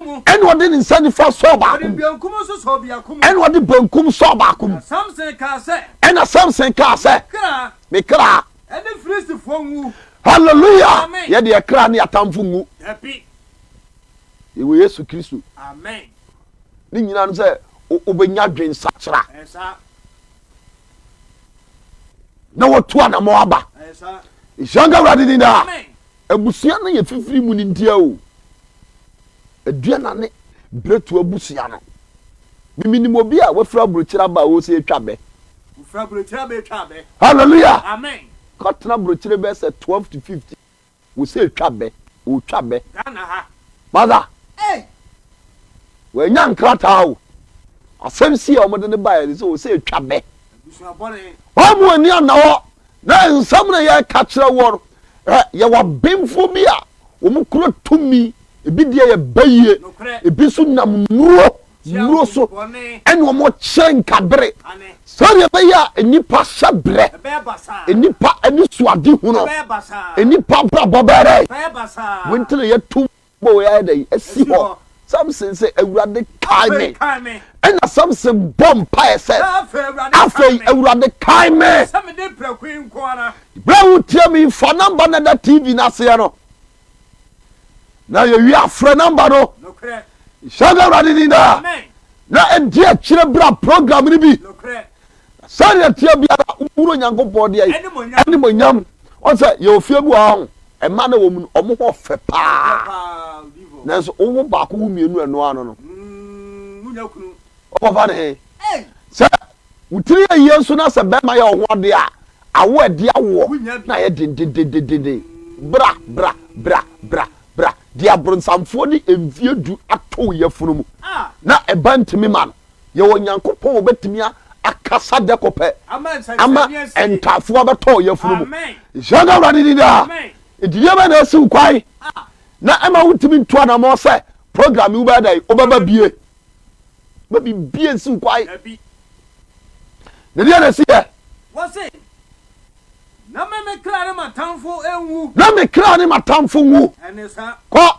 ɛna ɔde ne nsa nifa sɔɔ baako mu ɛna ɔde benkum sɔɔ baako mu ɛna samson kaa sɛ me kra hallelujah yɛde ɛkra ne atamfo ngu yɛwɔ yesu kristo ne nyinaa no sɛ wobɛnya dwen sakyera na wɔtu anamɔ aba nhyira nka awurade din daa Abusua no yɛ fifiri mu no ntia o aduanane bretu abusua no me menim obi a wafiri abrokyire aba a ɔsɛ atwa bɛ. Wofiri abrokyire aba atwa abɛ. Hallelujah. Amen. Kɔtena abrokyire bɛyɛ sɛ twelve to fifteen wosɛ atwa bɛ ɔtwa bɛ. Ghana ha. Mother. Ei. Wanya nkrataa o asɛm si a wɔde no baeɛ no sɛ ɔsɛ atwa bɛ. Wɔn a wɔn ani anna hɔ na nsɛm na yɛka kyerɛ wɔn. Yɛwɔ abenfoɔ bi a wɔn kura tumi, ebi deɛ yɛ bɛyie, ebi nso nam nnuro, nnuro so ɛna wɔn kyɛ nkabere. Sɛdeɛ ɛbɛyɛ a nnipa hyɛ brɛ, nnipa ani so ade hunu, nnipa abrabɔ bɛrɛ, wɔn ti na yɛtum. Bible yi ayɛ dɛn asi hɔ? Samson se, Awurade kae me. Ɛna Samson bɔ mpaeɛ sɛ, Afei Awurade kae me. Berɛ a wotia me yi, fa namba no da TV no aseɛ no, na yɛwie afrɛ namba no. Hyɛ no Awurade din daa. Na ɛdi akyire bra program no bi. Sɛdeɛ ɛteɛ biara, woboro Nyankopɔn deɛ animuonyam. Wɔn sɛ yɛwɔ fie bi wɔ ha ho, mmaa na wɔn mu no, wɔn ho ɔfɛ paa. Nanso wowo baako wo mmienu ɛno ano no, wɔkɔfa ne he? Sɛ wotiri yɛ yie nso na sɛ bɛrima yɛ wɔn ho adeɛ a, awo ɛde awoɔ na ayɛ dendendendenden. Bra bra bra bra bra deɛ abronsamfoɔ de mfie du ato wo yafunu mu na ɛba ntumi ma no. Yɛwɔ Nyankopɔn a Obetumi akasa dɛkopɛ ama ntaafoɔ abɛtɔ ɔyafunu mu. Nhyira nka Awurade din daa. Gyidie bɛn na ɛsi wo kwan na ɛma wontumi ntu anammɔn sɛ program yi wobɛyɛ dɛn? Wobɛba bie? Ma biribi ansi wo kwan. Na deɛ na ɛsi yɛ. Wɔse, na me me kra ne m'atamfo nwu. Na me kra ne m'atamfo nwu. Ɛne saa. Kɔ.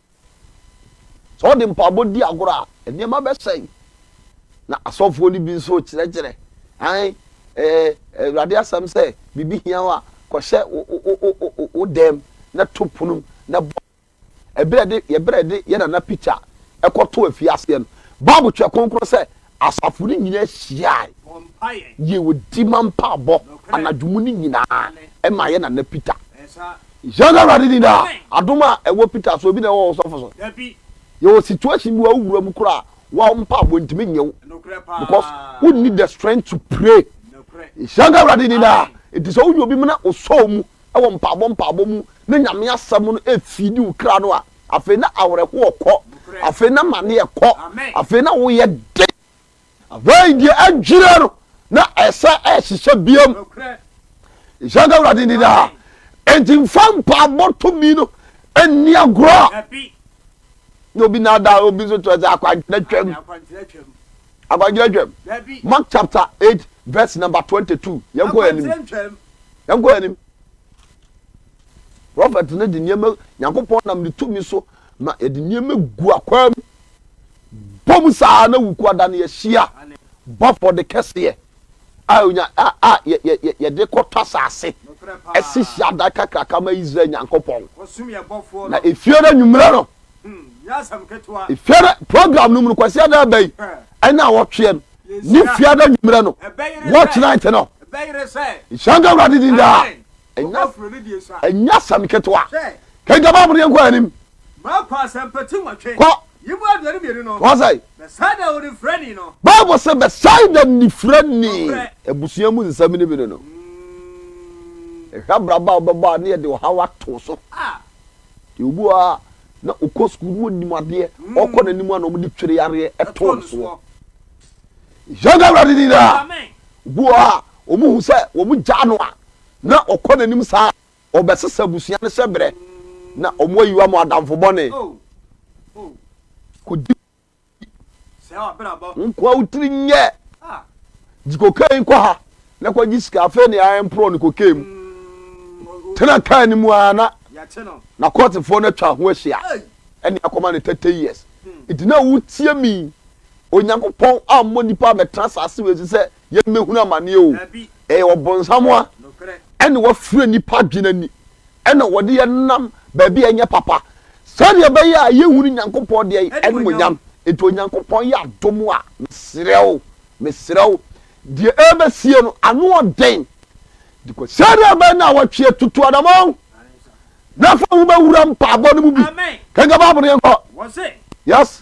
Sɛ wɔde mpaabɔ di agorɔ a, nneɛma bɛsɛe. Na asɔfoɔ no bi nso rekyerɛkyerɛ. Ae, ɛɛ, Awurade asɛm sɛ, biribi hia wo a, kɔhyɛ wo, wo, wo, wo, wo dɛm na to pono na bɔ. Ɛberɛ de, yɛberɛ de yɛ nana pikya ɛkɔto afiaseɛ no. Bible kyerɛ kronkron sɛ, Asafo no nyinaa hyiae yɛɛ odima mpaabɔ anadwo mu no nyinaa ɛma yɛn nana Peter. Yɛn awurade din daa adom a ɛwɔ Peter so ebi na ɛwɔ ɔsɔfo so yɛwɔ situation bi a wo wura mu koraa wo mpaabɔ ntumi nyɛ wo because wo need the strength to pray yɛn awurade din daa eti sɛ wo yɛ obi mu na osɔɔ mu ɛwɔ mpaabɔ mpaabɔ mu na nyame asɛm no efidi wo kra no a Afei na awerɛhoɔ kɔ. Afei na amaneɛ kɔ. Afei na wo yɛ den. Afei deɛ adwira no na ɛsɛ ɛhyehyɛ biam. Nhyɛ nka Awurade ni daa. Enti nfa mpaabɔ tumi no nni agorɔ. Na obi na ada obi nso kyerɛ sɛ akwankyerɛ twam. Akwankyerɛ twam. Mark chapter eight verse number twenty two. Yɛn kɔ yɛn anim. Yɛn kɔ yɛn anim. Prɔfɛt no de nneɛma, Nyankopɔn nam ne tumi so ma yɛde nneɛma gu akwaa mu. Bɔ mu saa na wuku ada no yɛhyia bɔ afɔde kɛseɛ a onya a a yɛ yɛ yɛ yɛde kɔtɔ asase ɛsi hyiadan kakraka ma Israel Nyankopɔn. Na efiara nwummerɛ no, efiara program no mu no kwasi ada ɛbɛyi ɛne awɔtweɛ no ne fiara nwummerɛ no watch night no. Nhyɛnka Awurade din daa. ɛnyɛ asɛm ketewa kenka bible no yɛnkɔ anim bible sɛ bɛsaida nifirani abusua mu nsɛm no bi no no ɛhwɛ abraba a wobɛbɔ a ne yɛde ɔhaw ato so deɛ obu a na ɔkɔ sukuu no ɔnim adeɛ ɔkɔ n'anim a na ɔmde twere yareɛ ɛtoo no soɔ yɛnka awurade ni daa obu a wɔn hu sɛ wɔn gya no a na ɔkɔ n'anim saa a, ɔbɛsesa abusua no hyɛbrɛ, na wɔayiwa mo adamfo bɔne. Kodi wo nkoa wo tiri nyɛ. Gye kokain kɔ ha na kɔgye sika, afei ne ara mporɔ no kokain mu. Tena kaa no mu ara na n'akɔɔtefoɔ no atwa ho ahyia ne akɔma no thirty years. Enti na wotie me Onyankopɔn ammɔ nnipa ammɛtena asase wei so sɛ yɛ mmɛhunu amaneɛ o, ɛyɛ ɔbonsam a ɛne wafira nnipa adwene ani ɛna wɔde yɛ nam baabi a ɛnyɛ papa sɛdeɛ ɛbɛyɛ a yɛhunu Nyankopɔn deɛ animonyam nti Onyankopɔn yɛ adom a mesrɛ wo mesrɛ wo deɛ ɛbɛsie no ano ɔden dikɔ sɛdeɛ ɛbɛyɛ na wɔtweɛ tutu adama wo na fa wo bɛwura mpaabɔ no mu bi kanka baabo no yɛnkɔ yes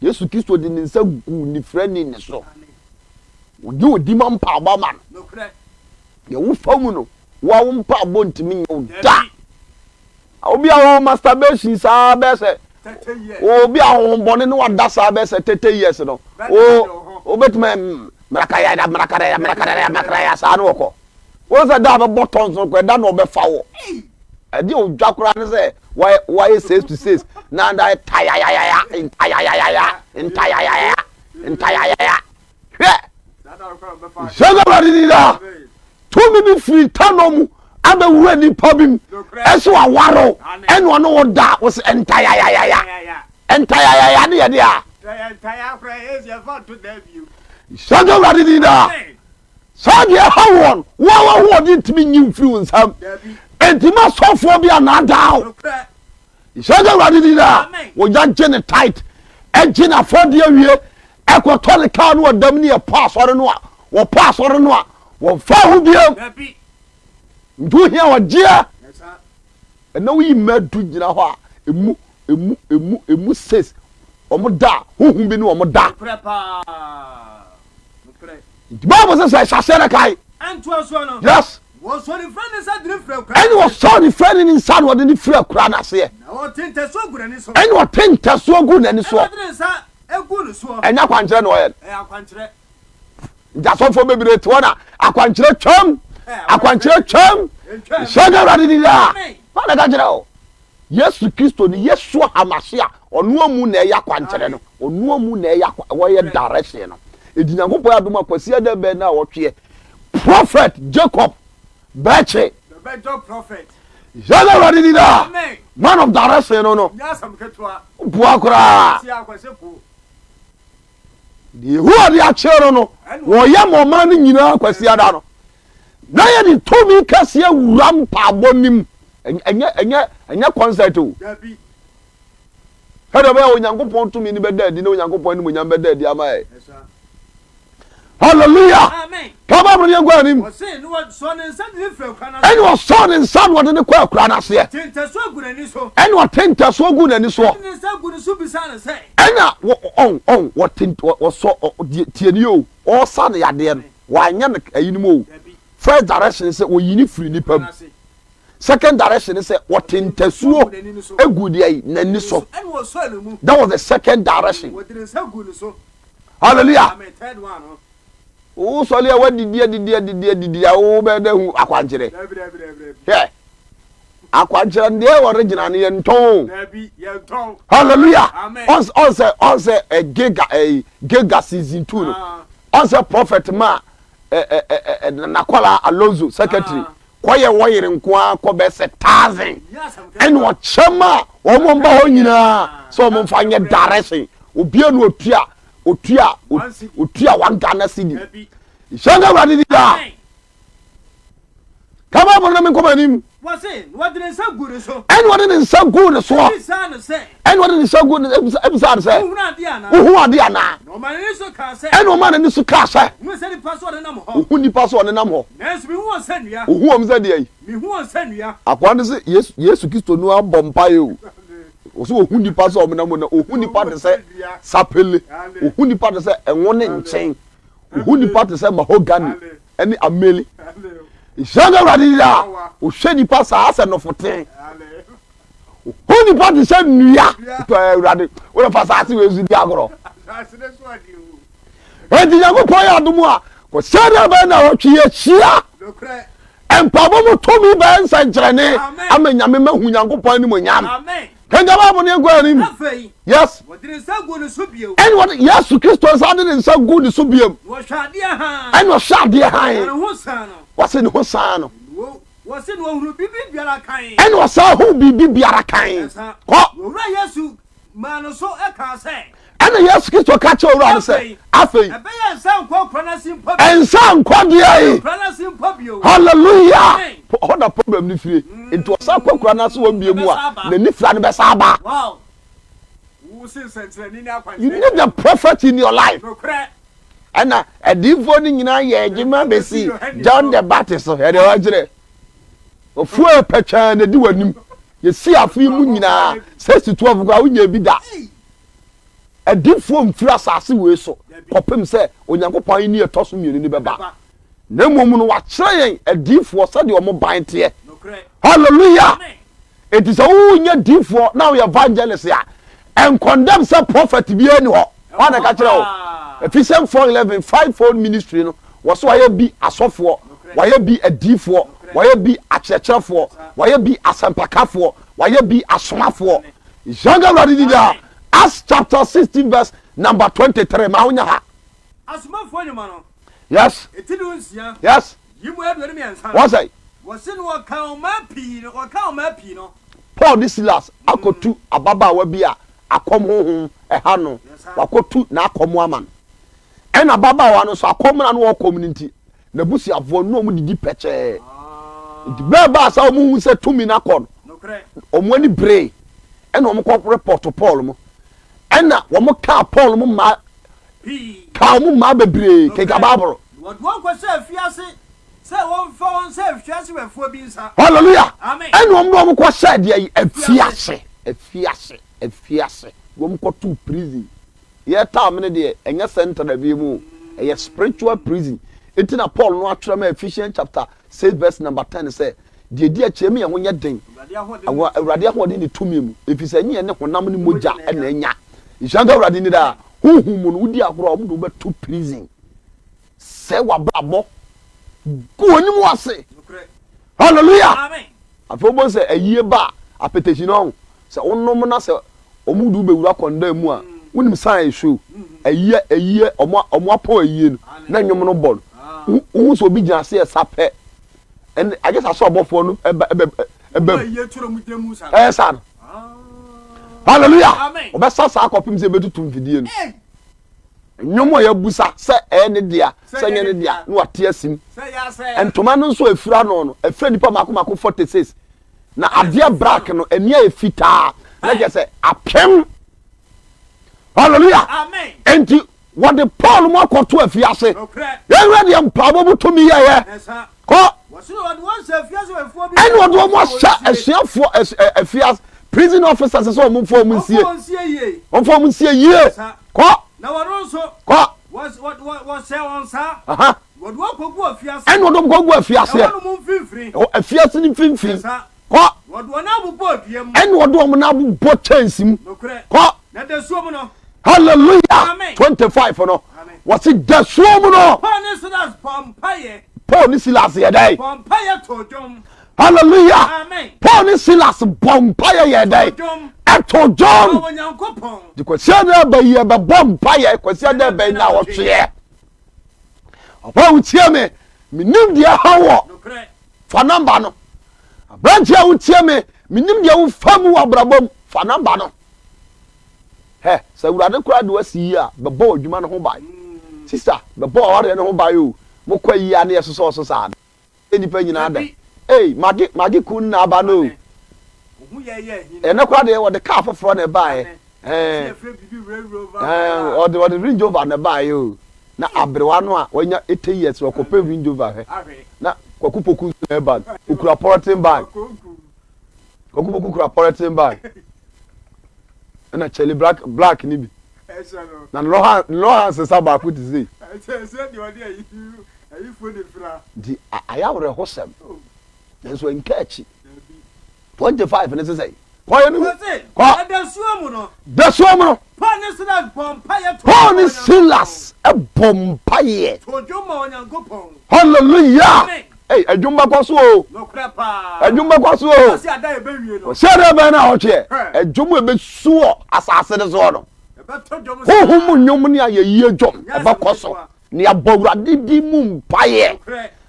Yesu Kristo de ne nsa guu onifirani no so. Wogye odi ma mpaebɔ ma no. Deɛ wofa mu no, wo ara wo mpaebɔ ntumi nyɛ wo da. Obi a ɔwɔ masturbation saa bɛyɛ sɛ obi a ahohombɔne ne wada saa bɛyɛ sɛ thirty years no, wobɛtumi mmarakayada mmarakadaya mmarakadaya mmarakadaya saa ne wɔkɔ. Wohu sɛ da a bɛbɔ tɔns no koraa da na ɔbɛfa wɔ. Ɛde odwa koraa ne sɛ wayɛ six to six na da ntayayayaya ntayayayaya ntayayayaya ntayayaya hwɛ yɛn awurade ni daa tumi bi firi ntano mu abɛwura nipa bi mu ɛso awaro ɛne ɔne wo da wo sɛ ntayayayaya ntayayaya ne yɛde a yɛn awurade ni daa Saa deɛ ɛha wɔn, wo a w'ahoɔden ntumi nyi mfiri wo nsam. Enti ma sɔfoɔ bi annaadaa wo. Nhyɛ nka Awurade din daa. Wɔgya gye ne tait, gye n'afɔdeɛ wie, ɛkɔtɔ ne kaa no ɔdam ne ɛpɔ asɔre no a, wɔpɔ asɔre no a, wɔmfa ho biam. Nti wohia ɔgyeɛ. Ɛna woyi mma du gyina hɔ a, emu, emu, emu, emu ses, wɔn da a, honhom bi ne wɔn da. Nokorɛ paa, nokorɛ. Nti Bible sɛ sɛ ɛhyɛ aseɛ no kae. Ɛntoa soɔ no. Yes. Wɔsɔ ne fira ne nsa de no firi akura. Ɛna wɔsɔ ne fira ne ne nsa na wɔde no firi akura no aseɛ. Na wɔte ntasuo gu n'ani so. Ɛna wɔte ntasuo gu n'ani soɔ. Ɛna wɔde ne nsa gu ne soɔ. Ɛnyɛ akwankyerɛ na wɔyɛ no. Ɛyɛ akwankyerɛ. nti asɔfoɔ bebree te hɔ na akwankyerɛ twam akwankyerɛ twam hyɛ ne awurade di daa wọn na ka kyerɛ o yesu kristo ni yesu hamase a ɔno amu na ɛyɛ akwankyerɛ no ɔno amu na ɛyɛ akwa wɔyɛ direction no edi nyankopɔn adum akwasi ɛdɛ bɛn na ɔtweɛ prophet jacob bɛkye hyɛ ne awurade di daa man of direction no no boa koraa. Deɛ Yehowa de akyerɛ no no, wɔyɛ ma ɔman no nyinaa Kwasiada no. Na yɛde tumi kɛseɛ wura mpaabɔ no mu. Ɛnyɛ, ɛnyɛ, ɛnyɛ kɔnsɛt o. Sɛdeɛ ɛbɛyɛ Onyankopɔn tumi no bɛda adi na Onyankopɔn animuonyam bɛda adi ama yɛn. Hallelujah! Amen. Ka Bible no yɛn kɔ anim. Ɔse na ɔsɔɔ ne nsa de ne firi akura no aseɛ. Ɛna ɔsɔɔ ne nsa na ɔde no kɔɔ akura no aseɛ. Ɔte ntasuo gu n'ani so. Ɛna ɔte ntasuo gu n'ani soɔ. Ɔde ne nsa gu no so bisaa no sɛ. Ɛna wɔ ɔn ɔn wɔte ɔsɔ ɔ deɛ tie nie o ɔresa ne yadeɛ no wanyɛ no ɛyinom o first direction ne sɛ ɔyi ne firi nipa mu second direction ne sɛ ɔte ntasuo egu deɛ n'ani so that was the second direction. Hallelujah! Wo sɔle a wadidi adidi adidi adidi a wo bɛ dɛ hu akwankyerɛ. Hwɛ. Akwankyerɛ no deɛ original no yɛ ntɔn. Hallelujah! Ɔnsɛ ɔnsɛ ɛ gega ɛ gega season two no. Ɔnsɛ prophet ma ɛ ɛ ɛ ɛ nakɔla Alonso secretary. kɔyɛ wɔn yere nko ara kɔ bɛyɛ sɛ thousand ɛna ɔkyɛm a wɔn mba hɔ nyinaa sɛ wɔn mfa nyɛ direction obia no otua otua otua one ghana cedi nhyɛn ka awurade di daa kama bɔ no me nkɔmɔ anim ɛna ɔde ne nsa guu ne soɔ Ɛnna ɔde ne nsa gu ne bisa no sɛ, Wohu ade anaa? Ɛnna ɔmaa n'ani so kaa sɛ, Ohu nnipa so a wɔnenam hɔ. Nanso mihu wɔn sɛ nnua. Ohu wɔn sɛ deɛn? Mihu wɔn sɛ nnua. Akoa no se, Yesu, Yesu Kristo no ara bɔ mpaeɛ o. Ɔsɛ ohu nnipa so a wɔnenam hɔ na ohu nnipa te sɛ sapele, ohu nnipa te sɛ ɛnwo ne nkyen, ohu nnipa te sɛ mahogany ne ameli. Nhyira nka Awurade daa, ɔhwɛ nnipa saa sɛ nɔfoten. Wo nipa te sɛ nnua. Tɔ yɛ awurade. Wode fa saase wei so di agorɔ. Enti Nyankopɔn yɛ adom a kɔsɛ dɛ bɛn na wɔtwe yɛhyia mpaebɔ mu tumi bɛyɛ nsɛnkyerɛnne ama Nyame mahu Nyankopɔn animonyam. Kɛngya Bible no yɛnkɔ anim. Yes. Ɛne wɔde Yesu Kristo nsa de ne nsa gu ne so biam. Ɛne ɔhwɛ adeɛ hann. Wɔse ne ho saa no. Wɔse na ɔhunu biribi biara kann. Ɛna ɔsan huu biribi biara kann. Ɛsa, Kɔ. Owura Yesu maa no so kaa sɛ. Ɛna Yesu Kristo ka kyerɛɛ owura no sɛ, Afei. Ɛbɛyɛ nsan nkɔ nkura no ase mpo bio. Nsan nkɔ deɛn? Nkura no ase mpo bio. Hallelujah! Amen. Hɔ na problem no fire. Nti ɔsan kɔ nkura no ase wɔn bio mu a, n'ani fira no bɛsan aba. Wow! Wose nsɛnkyerɛnne ni akwankyerɛ. You need a prophet in your life. Nokorɛ. Ɛna adiyifoɔ no nyinaa yɛ adwuma bɛsi John the Baptist so. Ɛdeɛ wɔkyerɛ. Ofuo a pɛtwaa na ɛdi w'anim. Yɛsi afo yi mu nyinaa. Sɛ si tuafoɔ koraa wonyɛ bi da. Adiyifoɔ mfiri asase wei so kɔpem sɛ Onyankopɔn ahennie ɛtɔ so mmienu no bɛba. Na mmom no, wakyerɛ yɛn adiifoɔ sɛdeɛ wɔn ban teɛ. Hallelujah! Enti sɛ wonyɛ diifoɔ na woyɛ evangelist a, ɛnkɔndɛm sɛ prophet biara ni hɔ. Wɔn na ɛka kyerɛ wo. Ephesians 4:11 five fold ministry no, wɔsɛ wɔayɛ bi asɔfoɔ, wɔayɛ bi adiifoɔ, wɔayɛ bi akyerɛkyerɛfoɔ, wɔayɛ bi asɛmpakafoɔ, wɔayɛ bi asomafoɔ. Yɛnka Awurade di daa. Acts chapter sixteen verse number twenty three ma wonya ha. Asomafoɔ nnwuma no, Yes. Eti du nsia. Yes. Yi mu aduonu mmiɛnsa. Wɔn sɛ. Wɔsi no wɔka ɔmaa pii no wɔka ɔmaa pii no. Paul ne Silas akɔtu mm. ababaawa bi a akɔm honhom ɛha no wakɔtu n'akɔm ama no ɛna ababaawa no nso akɔm na no wɔkɔm no nti n'abusuafoɔ no wɔn didi pɛkyɛɛ ah. nti bɛɛ baa sɛ wɔn hu sɛ tumi no akɔ no wɔn ani bere ɛna wɔn kɔ repɔto Paul mu ɛna wɔn kaa Paul mu mmaa kaa wɔn mmaa bebree keka baabolo. Wɔde wɔn kɔhyɛ afiase sɛ wɔmfa wɔn sɛ afiase wɛfoɔ bi nsa. Hallelujah. Amen. Ɛna wɔn de wɔn kɔhyɛ deɛ yi afiase afiase afiase wɔn kɔto prison. Yɛ time ne deɛ ɛnyɛ central bi mu ɛyɛ spiritual prison. Eti na Paul no atwerɛ ma Ephesians chapter six verse number ten sɛ Deɛ ɛdi akyire ɛma yɛn ho nyɛ den wɔ Awurade ahoɔden ne tumi mu, ɛfiri sɛ ɛnyɛ yɛn ne honam ne mogya na anya. Nhyira nka Awurade ni daa. Honhom mu no, wodi agorɔ a, wɔde wo bɛto prison. Sɛe w'abrabɔ. Gu w'anim wɔ ase. Hallelujah! Afei wobɛhu sɛ ayie ba a, apɛtɛsi no ɔho. Sɛ wonom na sɛ wɔde wo bɛwura kɔndan mu a, wonim sane a ɛso. Ayie, ayie, wɔn apɔn ayie no, na nnwom no bɔ no. Wohu sɛ obi gyina ase yɛ sapɛ. ɛn agye sa sɛ ɔbɔfoɔ no ɛba ɛbɛ ɛbɛ mu ɛyɛ saa no hallelujah ɔbɛsa saa kɔpem sɛ ɛbɛtutu mfidie no nnwom a yɛbusa sɛ ɛyɛ ne dea sɛ nyɛ ne dea na wate asim ntoma no nso ɛfiri ano no ɛfiri nnipa mako mako 46 na adeɛ black no ɛni a ɛfitaa na kyɛ sɛ apem hallelujah enti Wɔde Paul mu akɔto afiase. Yɛn wura deɛ mpaabɔ mu tumi yɛyɛ. Kɔ. Ɛna ɔde wɔn ahyɛ asuafoɔ afiase prison officers sɛ wɔn mfa wɔn nsie. Wɔn fa wɔn nsie yie. Kɔ. Na wɔn nso. Kɔ. Wɔhyɛ wɔn saa. Wɔde wɔn kɔgu afiase. Ɛna ɔde wɔn kɔgu afiase. Ɛwɔ no mu mfimfini. Ɛwɔ afiase no mfimfini. Kɔ. Wɔde wɔn abobɔ dua mu. Ɛna wɔde wɔn abobɔ kyɛnse mu. Nokorɛ. Kɔ. Na dasuo mu no. Hallelujah. Amen. Twenty five no. Amen. Wɔsi dasuo mu no. Paul ne Silas bɔ mpaeɛ. Paul ne Silas yɛ dɛ. Bɔ mpaeɛ to dwom. Hallelujah. Amen. Paul ne Silas bɔ mpaeɛ yɛ dɛ. Ɛto dwom. Ɛwɔ Nyankopɔn. De kwasia na ɛbɛ yi ɛbɛ bɔ mpaeɛ kwasia na ɛbɛ yi na ɔtweɛ. Ɔbaa wotie me. Menim deɛ ha wɔ. Nokorɛ. fa nɔmba no. Aberanteɛ a wotie me, menim deɛ wofa mu wɔ abrabɔ mu, fa nɔmba no. Hɛ, sɛ Awurade koraa de wasi yie a, bɛbɔ w'adwuma no ho ban. Sista, bɛbɔ w'awareɛ no ho ban o. Mokɔ ayie a ne yɛsosɔ so saa no. Sɛ nnipa nyinaa dɛ. Ei, Maggie, Maggie Kun na aba no o. Ɛnnɛ koraa deɛ wɔde kaa foforɔ na ɛbaeɛ. ɔde range rover na ɛbaeɛ o na aberewa no a wanya eighty years no ɔkɔpɛ range rover hwɛ na kwaku poku nso na ɛba no okura pɔrɔten bag kwaku poku kura pɔrɔten bag ɛna kyɛli black black ni bi na lɔha lɔha nsesa baako ti se. nti ayɛ awerɛhosɛm nanso nka akyi. twenty five ne sisɛ yi kɔ yɛ nuhu kɔ dasuo mu no dasuo mu no paul ne silas bɔ mpa yɛ paul ne silas bɔ mpa yɛ to dwom ma onyankopɔn hallelujah ɛy adwuma kɔ so o nokorɛ paa adwuma kɔ so o ɔsi ada ebe wie no ɔsi ada ebe na ɔtweɛ adwuma ebe suɔ asase ne soɔ no huhu mu nnwom ne ayɛyie dwom ɛbɛ kɔ so Na yɛabɔ Awurade din mu mpaeɛ.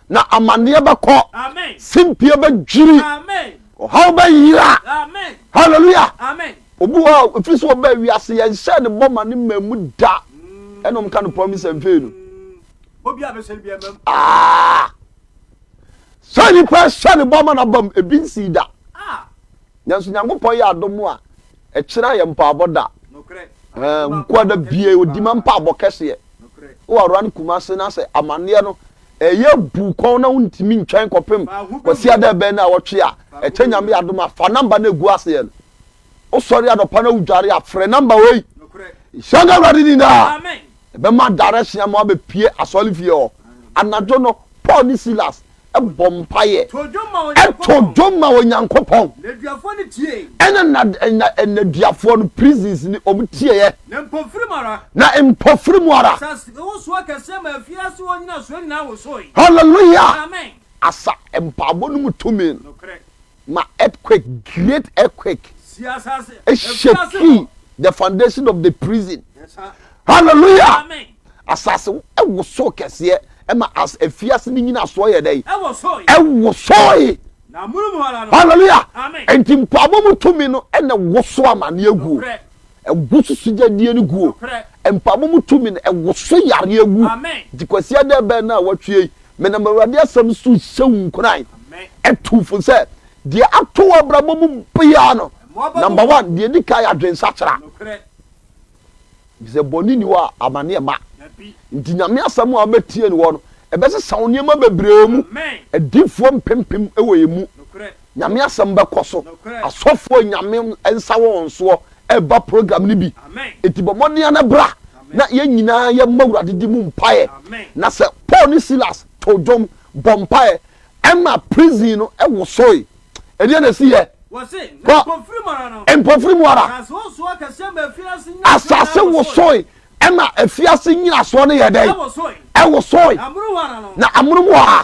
Na amanneɛ bɛkɔ. Simpie bɛdwiri. Ɔhaw bɛyera. Hallelujah. Obi hɔ a ɛfiri sɛ ɔbaa wiase yɛnhyɛɛ ne bɔ ma ne mmaa mu da. Mm. Ɛna ɔmka no promise mfei no. Ah! Sɛ nipa hyɛ ne bɔ ma no abam ebi nsii da. Ah! Nanso Nyankopɔn yɛ adom a Ɛkyerɛ a yɛ mpaabɔ da hɛ nkoa da bie odi ma mpaabɔ kɛseɛ wɔ awura no kuma ase na sɛ amaneɛ no ɛyɛ bu kɔn na wontumi ntwɛn kɔpem kwasia dɛ bɛn na awɔtwe a ɛkyɛ nyame adom a fa namba no egu aseɛ no wosɔre adɔpa na wodware a frɛ namba wei hyɛ nka awurade ni daa ɛbɛma direction ama wabɛpie asɔre fie hɔ anadwo no Paul ne Silas bɔ mpaeɛ, to dwom ma Onyankopɔn, ɛna na na nnaduafoɔ no prisons ni wɔn tieɛ, na mpofiri mu ara, hallelujah, asa mpaabɔ no mu tumi no. ma earthquake, great earthquake, shakii the foundation of the prison. Hallelujah! Asase wosow kɛseɛ ɛma as efiase ne nyina soɔ yɛ dɛ ɛwosoe. Hallelujah! Nti mpaabɔ mu tumi no ɛna woso amaneɛ guo. Ɛgo so sugyadie no guo. Mpaebɔ mu tumi no, ɛwoso yareɛ gu. Nti Kwasiada ɛbɛn no a watwie yi, menam Awurade asɛm so rehyɛ wo nkuran, atu fo sɛ, deɛ ato wo abrabɔ mu biara no, number one, deɛ ɛdi kan yɛ adwensakyera. Ɛfiri sɛ bɔne nni hɔ a amaneɛ mma. Nti Nyame asɛm a wobɛtie no hɔ no, ɛbɛsesa wo nneɛma bebree mu. Adiyifoɔ mpempem wɔ yɛn mu. Nyame asɛm bɛkɔ so. Asɔfoɔ Nyame nsa wɔ wɔn soɔ ɛba program no bi nti bɔ mmɔden ara na bra na yɛn nyinaa yɛ mmɔ Awurade din mu mpaeɛ na sɛ Paul ne Silas too dwom bɔ mpaeɛ ɛma prison no wosoe ɛdeɛn na ɛsiiɛ? Hɔ mpofiri mu ara asase wosoe ɛma afiase nnyinasoɔ no yɛ dɛn? Ɛwosoe na amonom hɔ ara.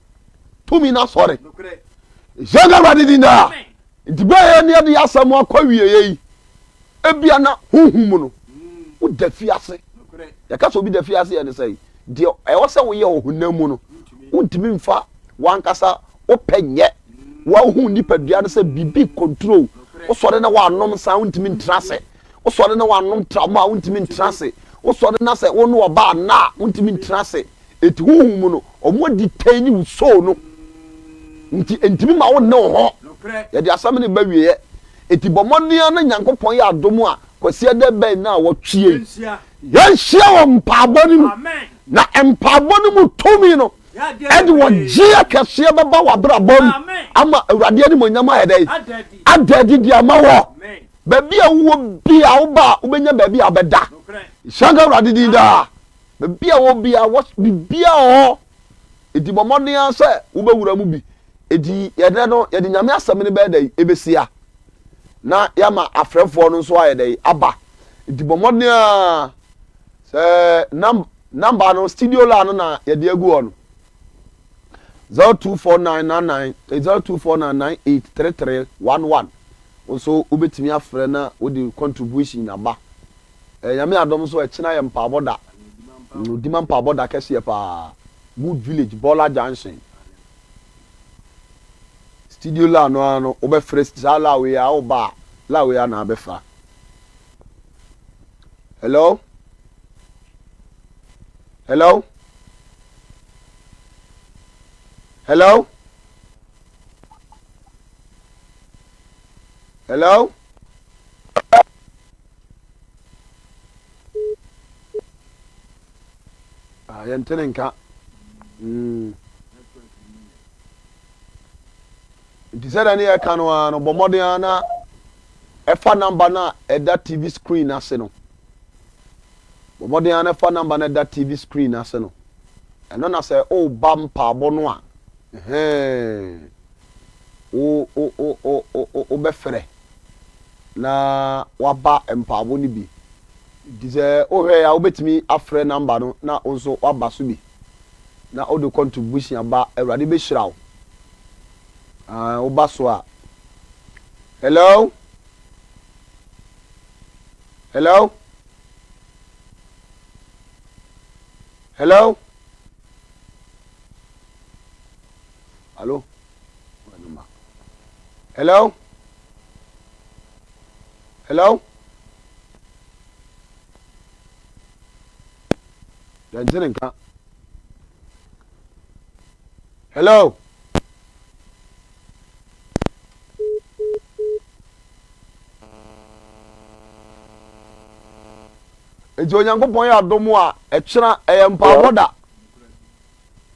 tumi na sɔre hyɛ no awurade din daa nti bɛyɛ ne ɛde asɛm akɔ wieɛ yi ebia na honhom mu no woda fi ase yɛka sɛ obi da fi ase yɛ ne sɛ deɛ ɛwɔ sɛ woyɛ wɔ honam mu no wontumi mfa wankasa wopɛ nyɛ wahu nipadua no sɛ biribi control wosɔre na wanom nsa wontumi ntra ase wosɔre na wanom tram a wontumi ntra ase wosɔre na sɛ wo ne ɔba anaa wontumi ntra ase Enti honhom mu no, wɔadi kan ne wo soo no, nti entumi ma wo nne wo ho. Yɛde asɛm no reba awieɛ, enti bɔ mmɔden ara na Nyankopɔn yɛ adom a Kwasiada bɛn na wɔtwe yɛn yɛnhyia wɔ mpaabɔ no mu, na mpaabɔ no mu tumi no ɛde wɔgyeɛ kɛseɛ bɛba w'abrabɔ mu ama Awurade animonyam ayɛ dɛn? Ada adi de ama wɔ. Baabi a wowɔ bia wobaa wobɛnya baabi a wobɛda. Hyira nka Awurade din daa. Baabi a ɔwɔ biara, wɔ biribiara wɔ hɔ. Enti bɔ mmɔden ara sɛ wobɛwura mu bi. Enti ɛnnɛ no, yɛde Nyame asɛm no bɛyɛ dɛn? Ɛbɛsia. Na yɛama afrɛfoɔ no nso ayɛ dɛn? Aba. Enti bɔ mmɔden ara sɛ nam namba no, studio line no na yɛde agu hɔ no. 024999 eh, 0249983311 wo nso wobɛtumi afrɛ na wode contribution aba. Ɛɛ Nyame adom so ɛkyena yɛ mpaabɔ da mm odima mpaabɔ da kɛseɛ paa good village bɔla junction studio la no ara no wobɛ frɛ saa la wei a wo ba a la wei a na abɛ fra hello hello hello hello Ah, yɛnte ne nka. Mm. Nti sɛdeɛ ne yɛka no ara no, bɔ mmɔden ara na ɛfa namba no a ɛda TV screen no ase no. Bɔ mmɔden ara na ɛfa namba no a ɛda TV screen no ase no. Ɛno na sɛ woba mpaabɔ no a, ɛhɛn, wo, wo, wo, wo, wo, wobɛfrɛ. na waba mpaabɔ no bi nti sɛ wohwɛ a wobɛtumi afrɛ number no na wo nso waba so bi na wode contribution ba awurade bɛhyira wo ah, woba so a hello hello hello hello hello Hello? Yɛn ti ne nka. Hello? Nti Onyankopɔn yɛ adom a ɛkyerɛ ɛyɛ mpaabɔ da.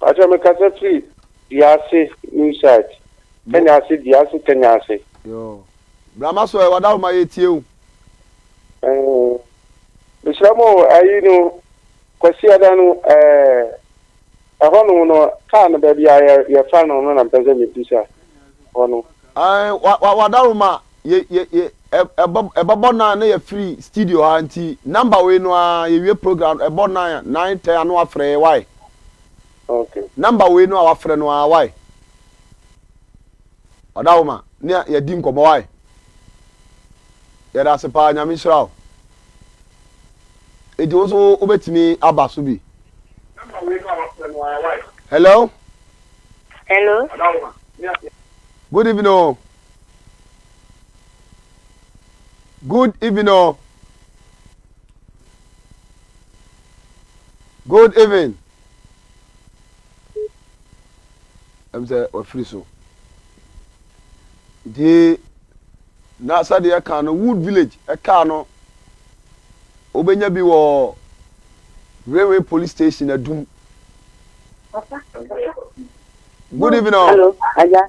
Pacho me kasa firi Duase new site Kenya ase Duase Kenya ase. Yoo bra ma so ɛwɔ da homa yɛ tie o. Ɛɛ mesrɛ mo ayi no Kwasi Ada no ɛɛ ɛhɔ nom no kaa no baabi a yɛ yɛfa no no na mpɛ sɛ mebisa hɔ no. Ɛɛ wa wa wada homa yɛ yɛ yɛ ɛbɔ ɛbɛbɔ nan na yɛfiri studio ha nti number wei no ara yɛwie program ɛbɔ nan nan tɛ ano afrɛ yɛ wae okay number wei no a wafrɛ no ara wae ɔda wo ma ne yɛdi nkɔmmɔ wae yɛda ase paa nyame nhyira wo eti wo so wobɛtumi aba so bi hello hello good evening o. Good even o. Good even. Ɛm sɛ wafiri so. Nti na sɛdeɛ ɛka no Wood Village ɛka no wobɛnya bi wɔ Railway Police Station Adum. Good even o. Hello, Aja.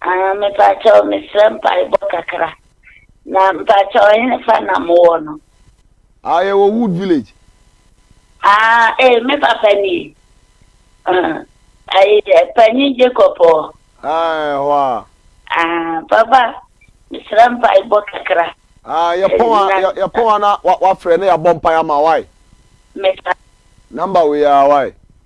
Ahaa mepaakyɛw mesrɛ mpaebɔ kakra na mpaakyɛw hefa na mo wɔ no. Ahaa yɛwɔ wood village. Ahaa ee me papa nie ahaa ɛɛ panyin Jacob ɔ. Ahaa ɛhɔ a. Ahaa papa mesrɛ mpaebɔ kakra. Ahaa yɛ pɔn a yɛ yɛ pɔn a na wa wafrɛ na yɛ abɔ mpae ama wae. Mesa. Number wei aa wae.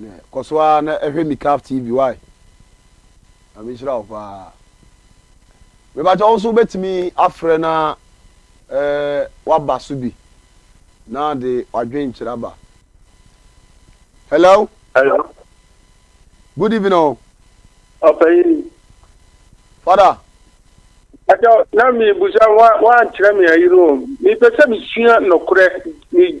Nɛ kɔso aa na ɛhwɛ mi caf TV wai Nyame nhyira wo paa Mepakyɛ wo nso wobɛtumi afrɛ na ɛɛ waba so bi na de wadwen kyerɛ aba Hello. Hello. Good evening o. Ɔpanyin. Father. Akyɛ na mi busa wa wa nkyerɛ mi ayiri o. Mi pɛ sɛ mi sua nɔkorɛ mi.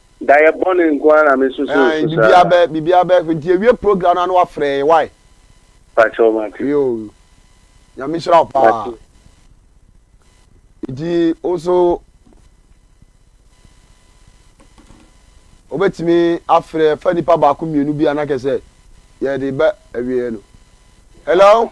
Dayɛ bɔne nko ara na me nso so nso saa. Biribiara bɛ biribiara bɛ nti yɛwie program no a na wafrɛ yɛn why. Pakyɛw mate. Yoo Nyame nhyira wo paa. Mate. Nti wo nso wobɛtumi afrɛ fa nipa baako mmienu bi a na kɛ sɛ yɛde bɛ awieɛ no. Hello.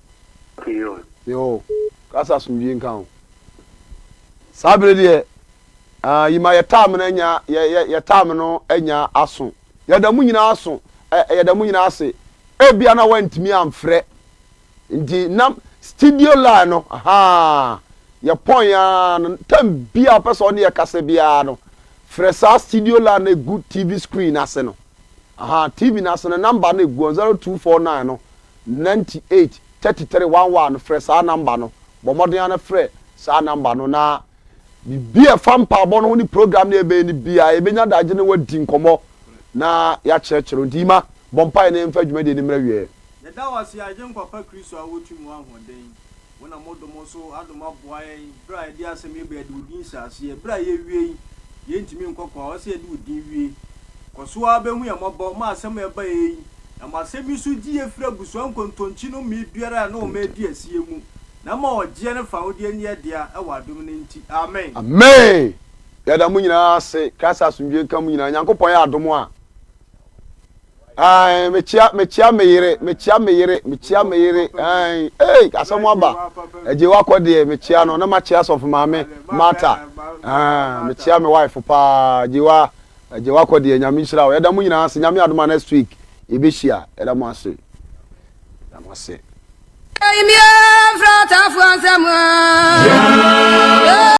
Sion. Yeo, ka sɛ asomdwie nka wo. Saa bere deɛ, ah, yima yɛ time no anya, yɛ, yɛ, yɛ time no anya aso. Yɛda mo nyinaa aso, ɛ, yɛda mo nyinaa ase. Ebia na wɔantumi amfrɛ, nti na studio line no, ahaa, yɛ pɔn ara no, time biara ɔpɛ sɛ ɔne yɛ kasa biara no, frɛ saa studio line no egu TV screen no ase no, ahaa, TV no ase no, number no egu hɔ, 0249 no, Ninety eight, thirty three, one one, Frɛ saa nɔmba no. Bɔ mmɔden ara na frɛ saa nɔmba no, na biribi a ɛfa mpaebɔ no ho ne program no a yɛbɛyɛ no biara, yɛbɛnya adagyew ne wo adi nkɔmmɔ na yɛakyerɛkyerɛ wo. Enti Emma, bɔ mpae na yɛmfa dwumadi no mmra awieeɛ. Yɛda wo ase, Agyenkwa pa Kristo a wotumi wɔ ahoɔden. Wo na modom so adom aboa yɛn berɛ a yɛde asɛm yi ba yɛde wo din hyɛ aseɛ berɛ a yɛwie yi yɛntumi nkɔ kɔ a ɔsɛ yɛde wo din wie kɔso ara bɛhu yɛn mmɔbɔ ma asɛm a ɛba yɛ yi na ma asɛm yi nso gye yɛ firi abusua nkontonkyi no mmee biara a ɛne wɔn ɛredi asie mu na ɛma ɔgyeɛ ne fawodeɛ nyɛ yɛ dea ɛwɔ adom no nti amen. Amen! Yɛda mo nyinaa ase. Christ asomdwoe nka mo nyinaa. Nyankopɔn yɛ adom a. Ae, mekyia, mekyia me yere, mekyia me yere, mekyia me yere. Ae, ei, asɛm aba. Agye wakɔ deɛ, mekyia no, na makyia sɔfo maame, Martha. Ae, mekyia me wife paa, agye wa, agye wakɔ deɛ, nyame nhyira wo. Yɛda mo nyinaa ase, nyame adoma next week, yɛbɛhyia, yɛda mo ase, yɛda mo ase. Kaimia frata fuansa mwa.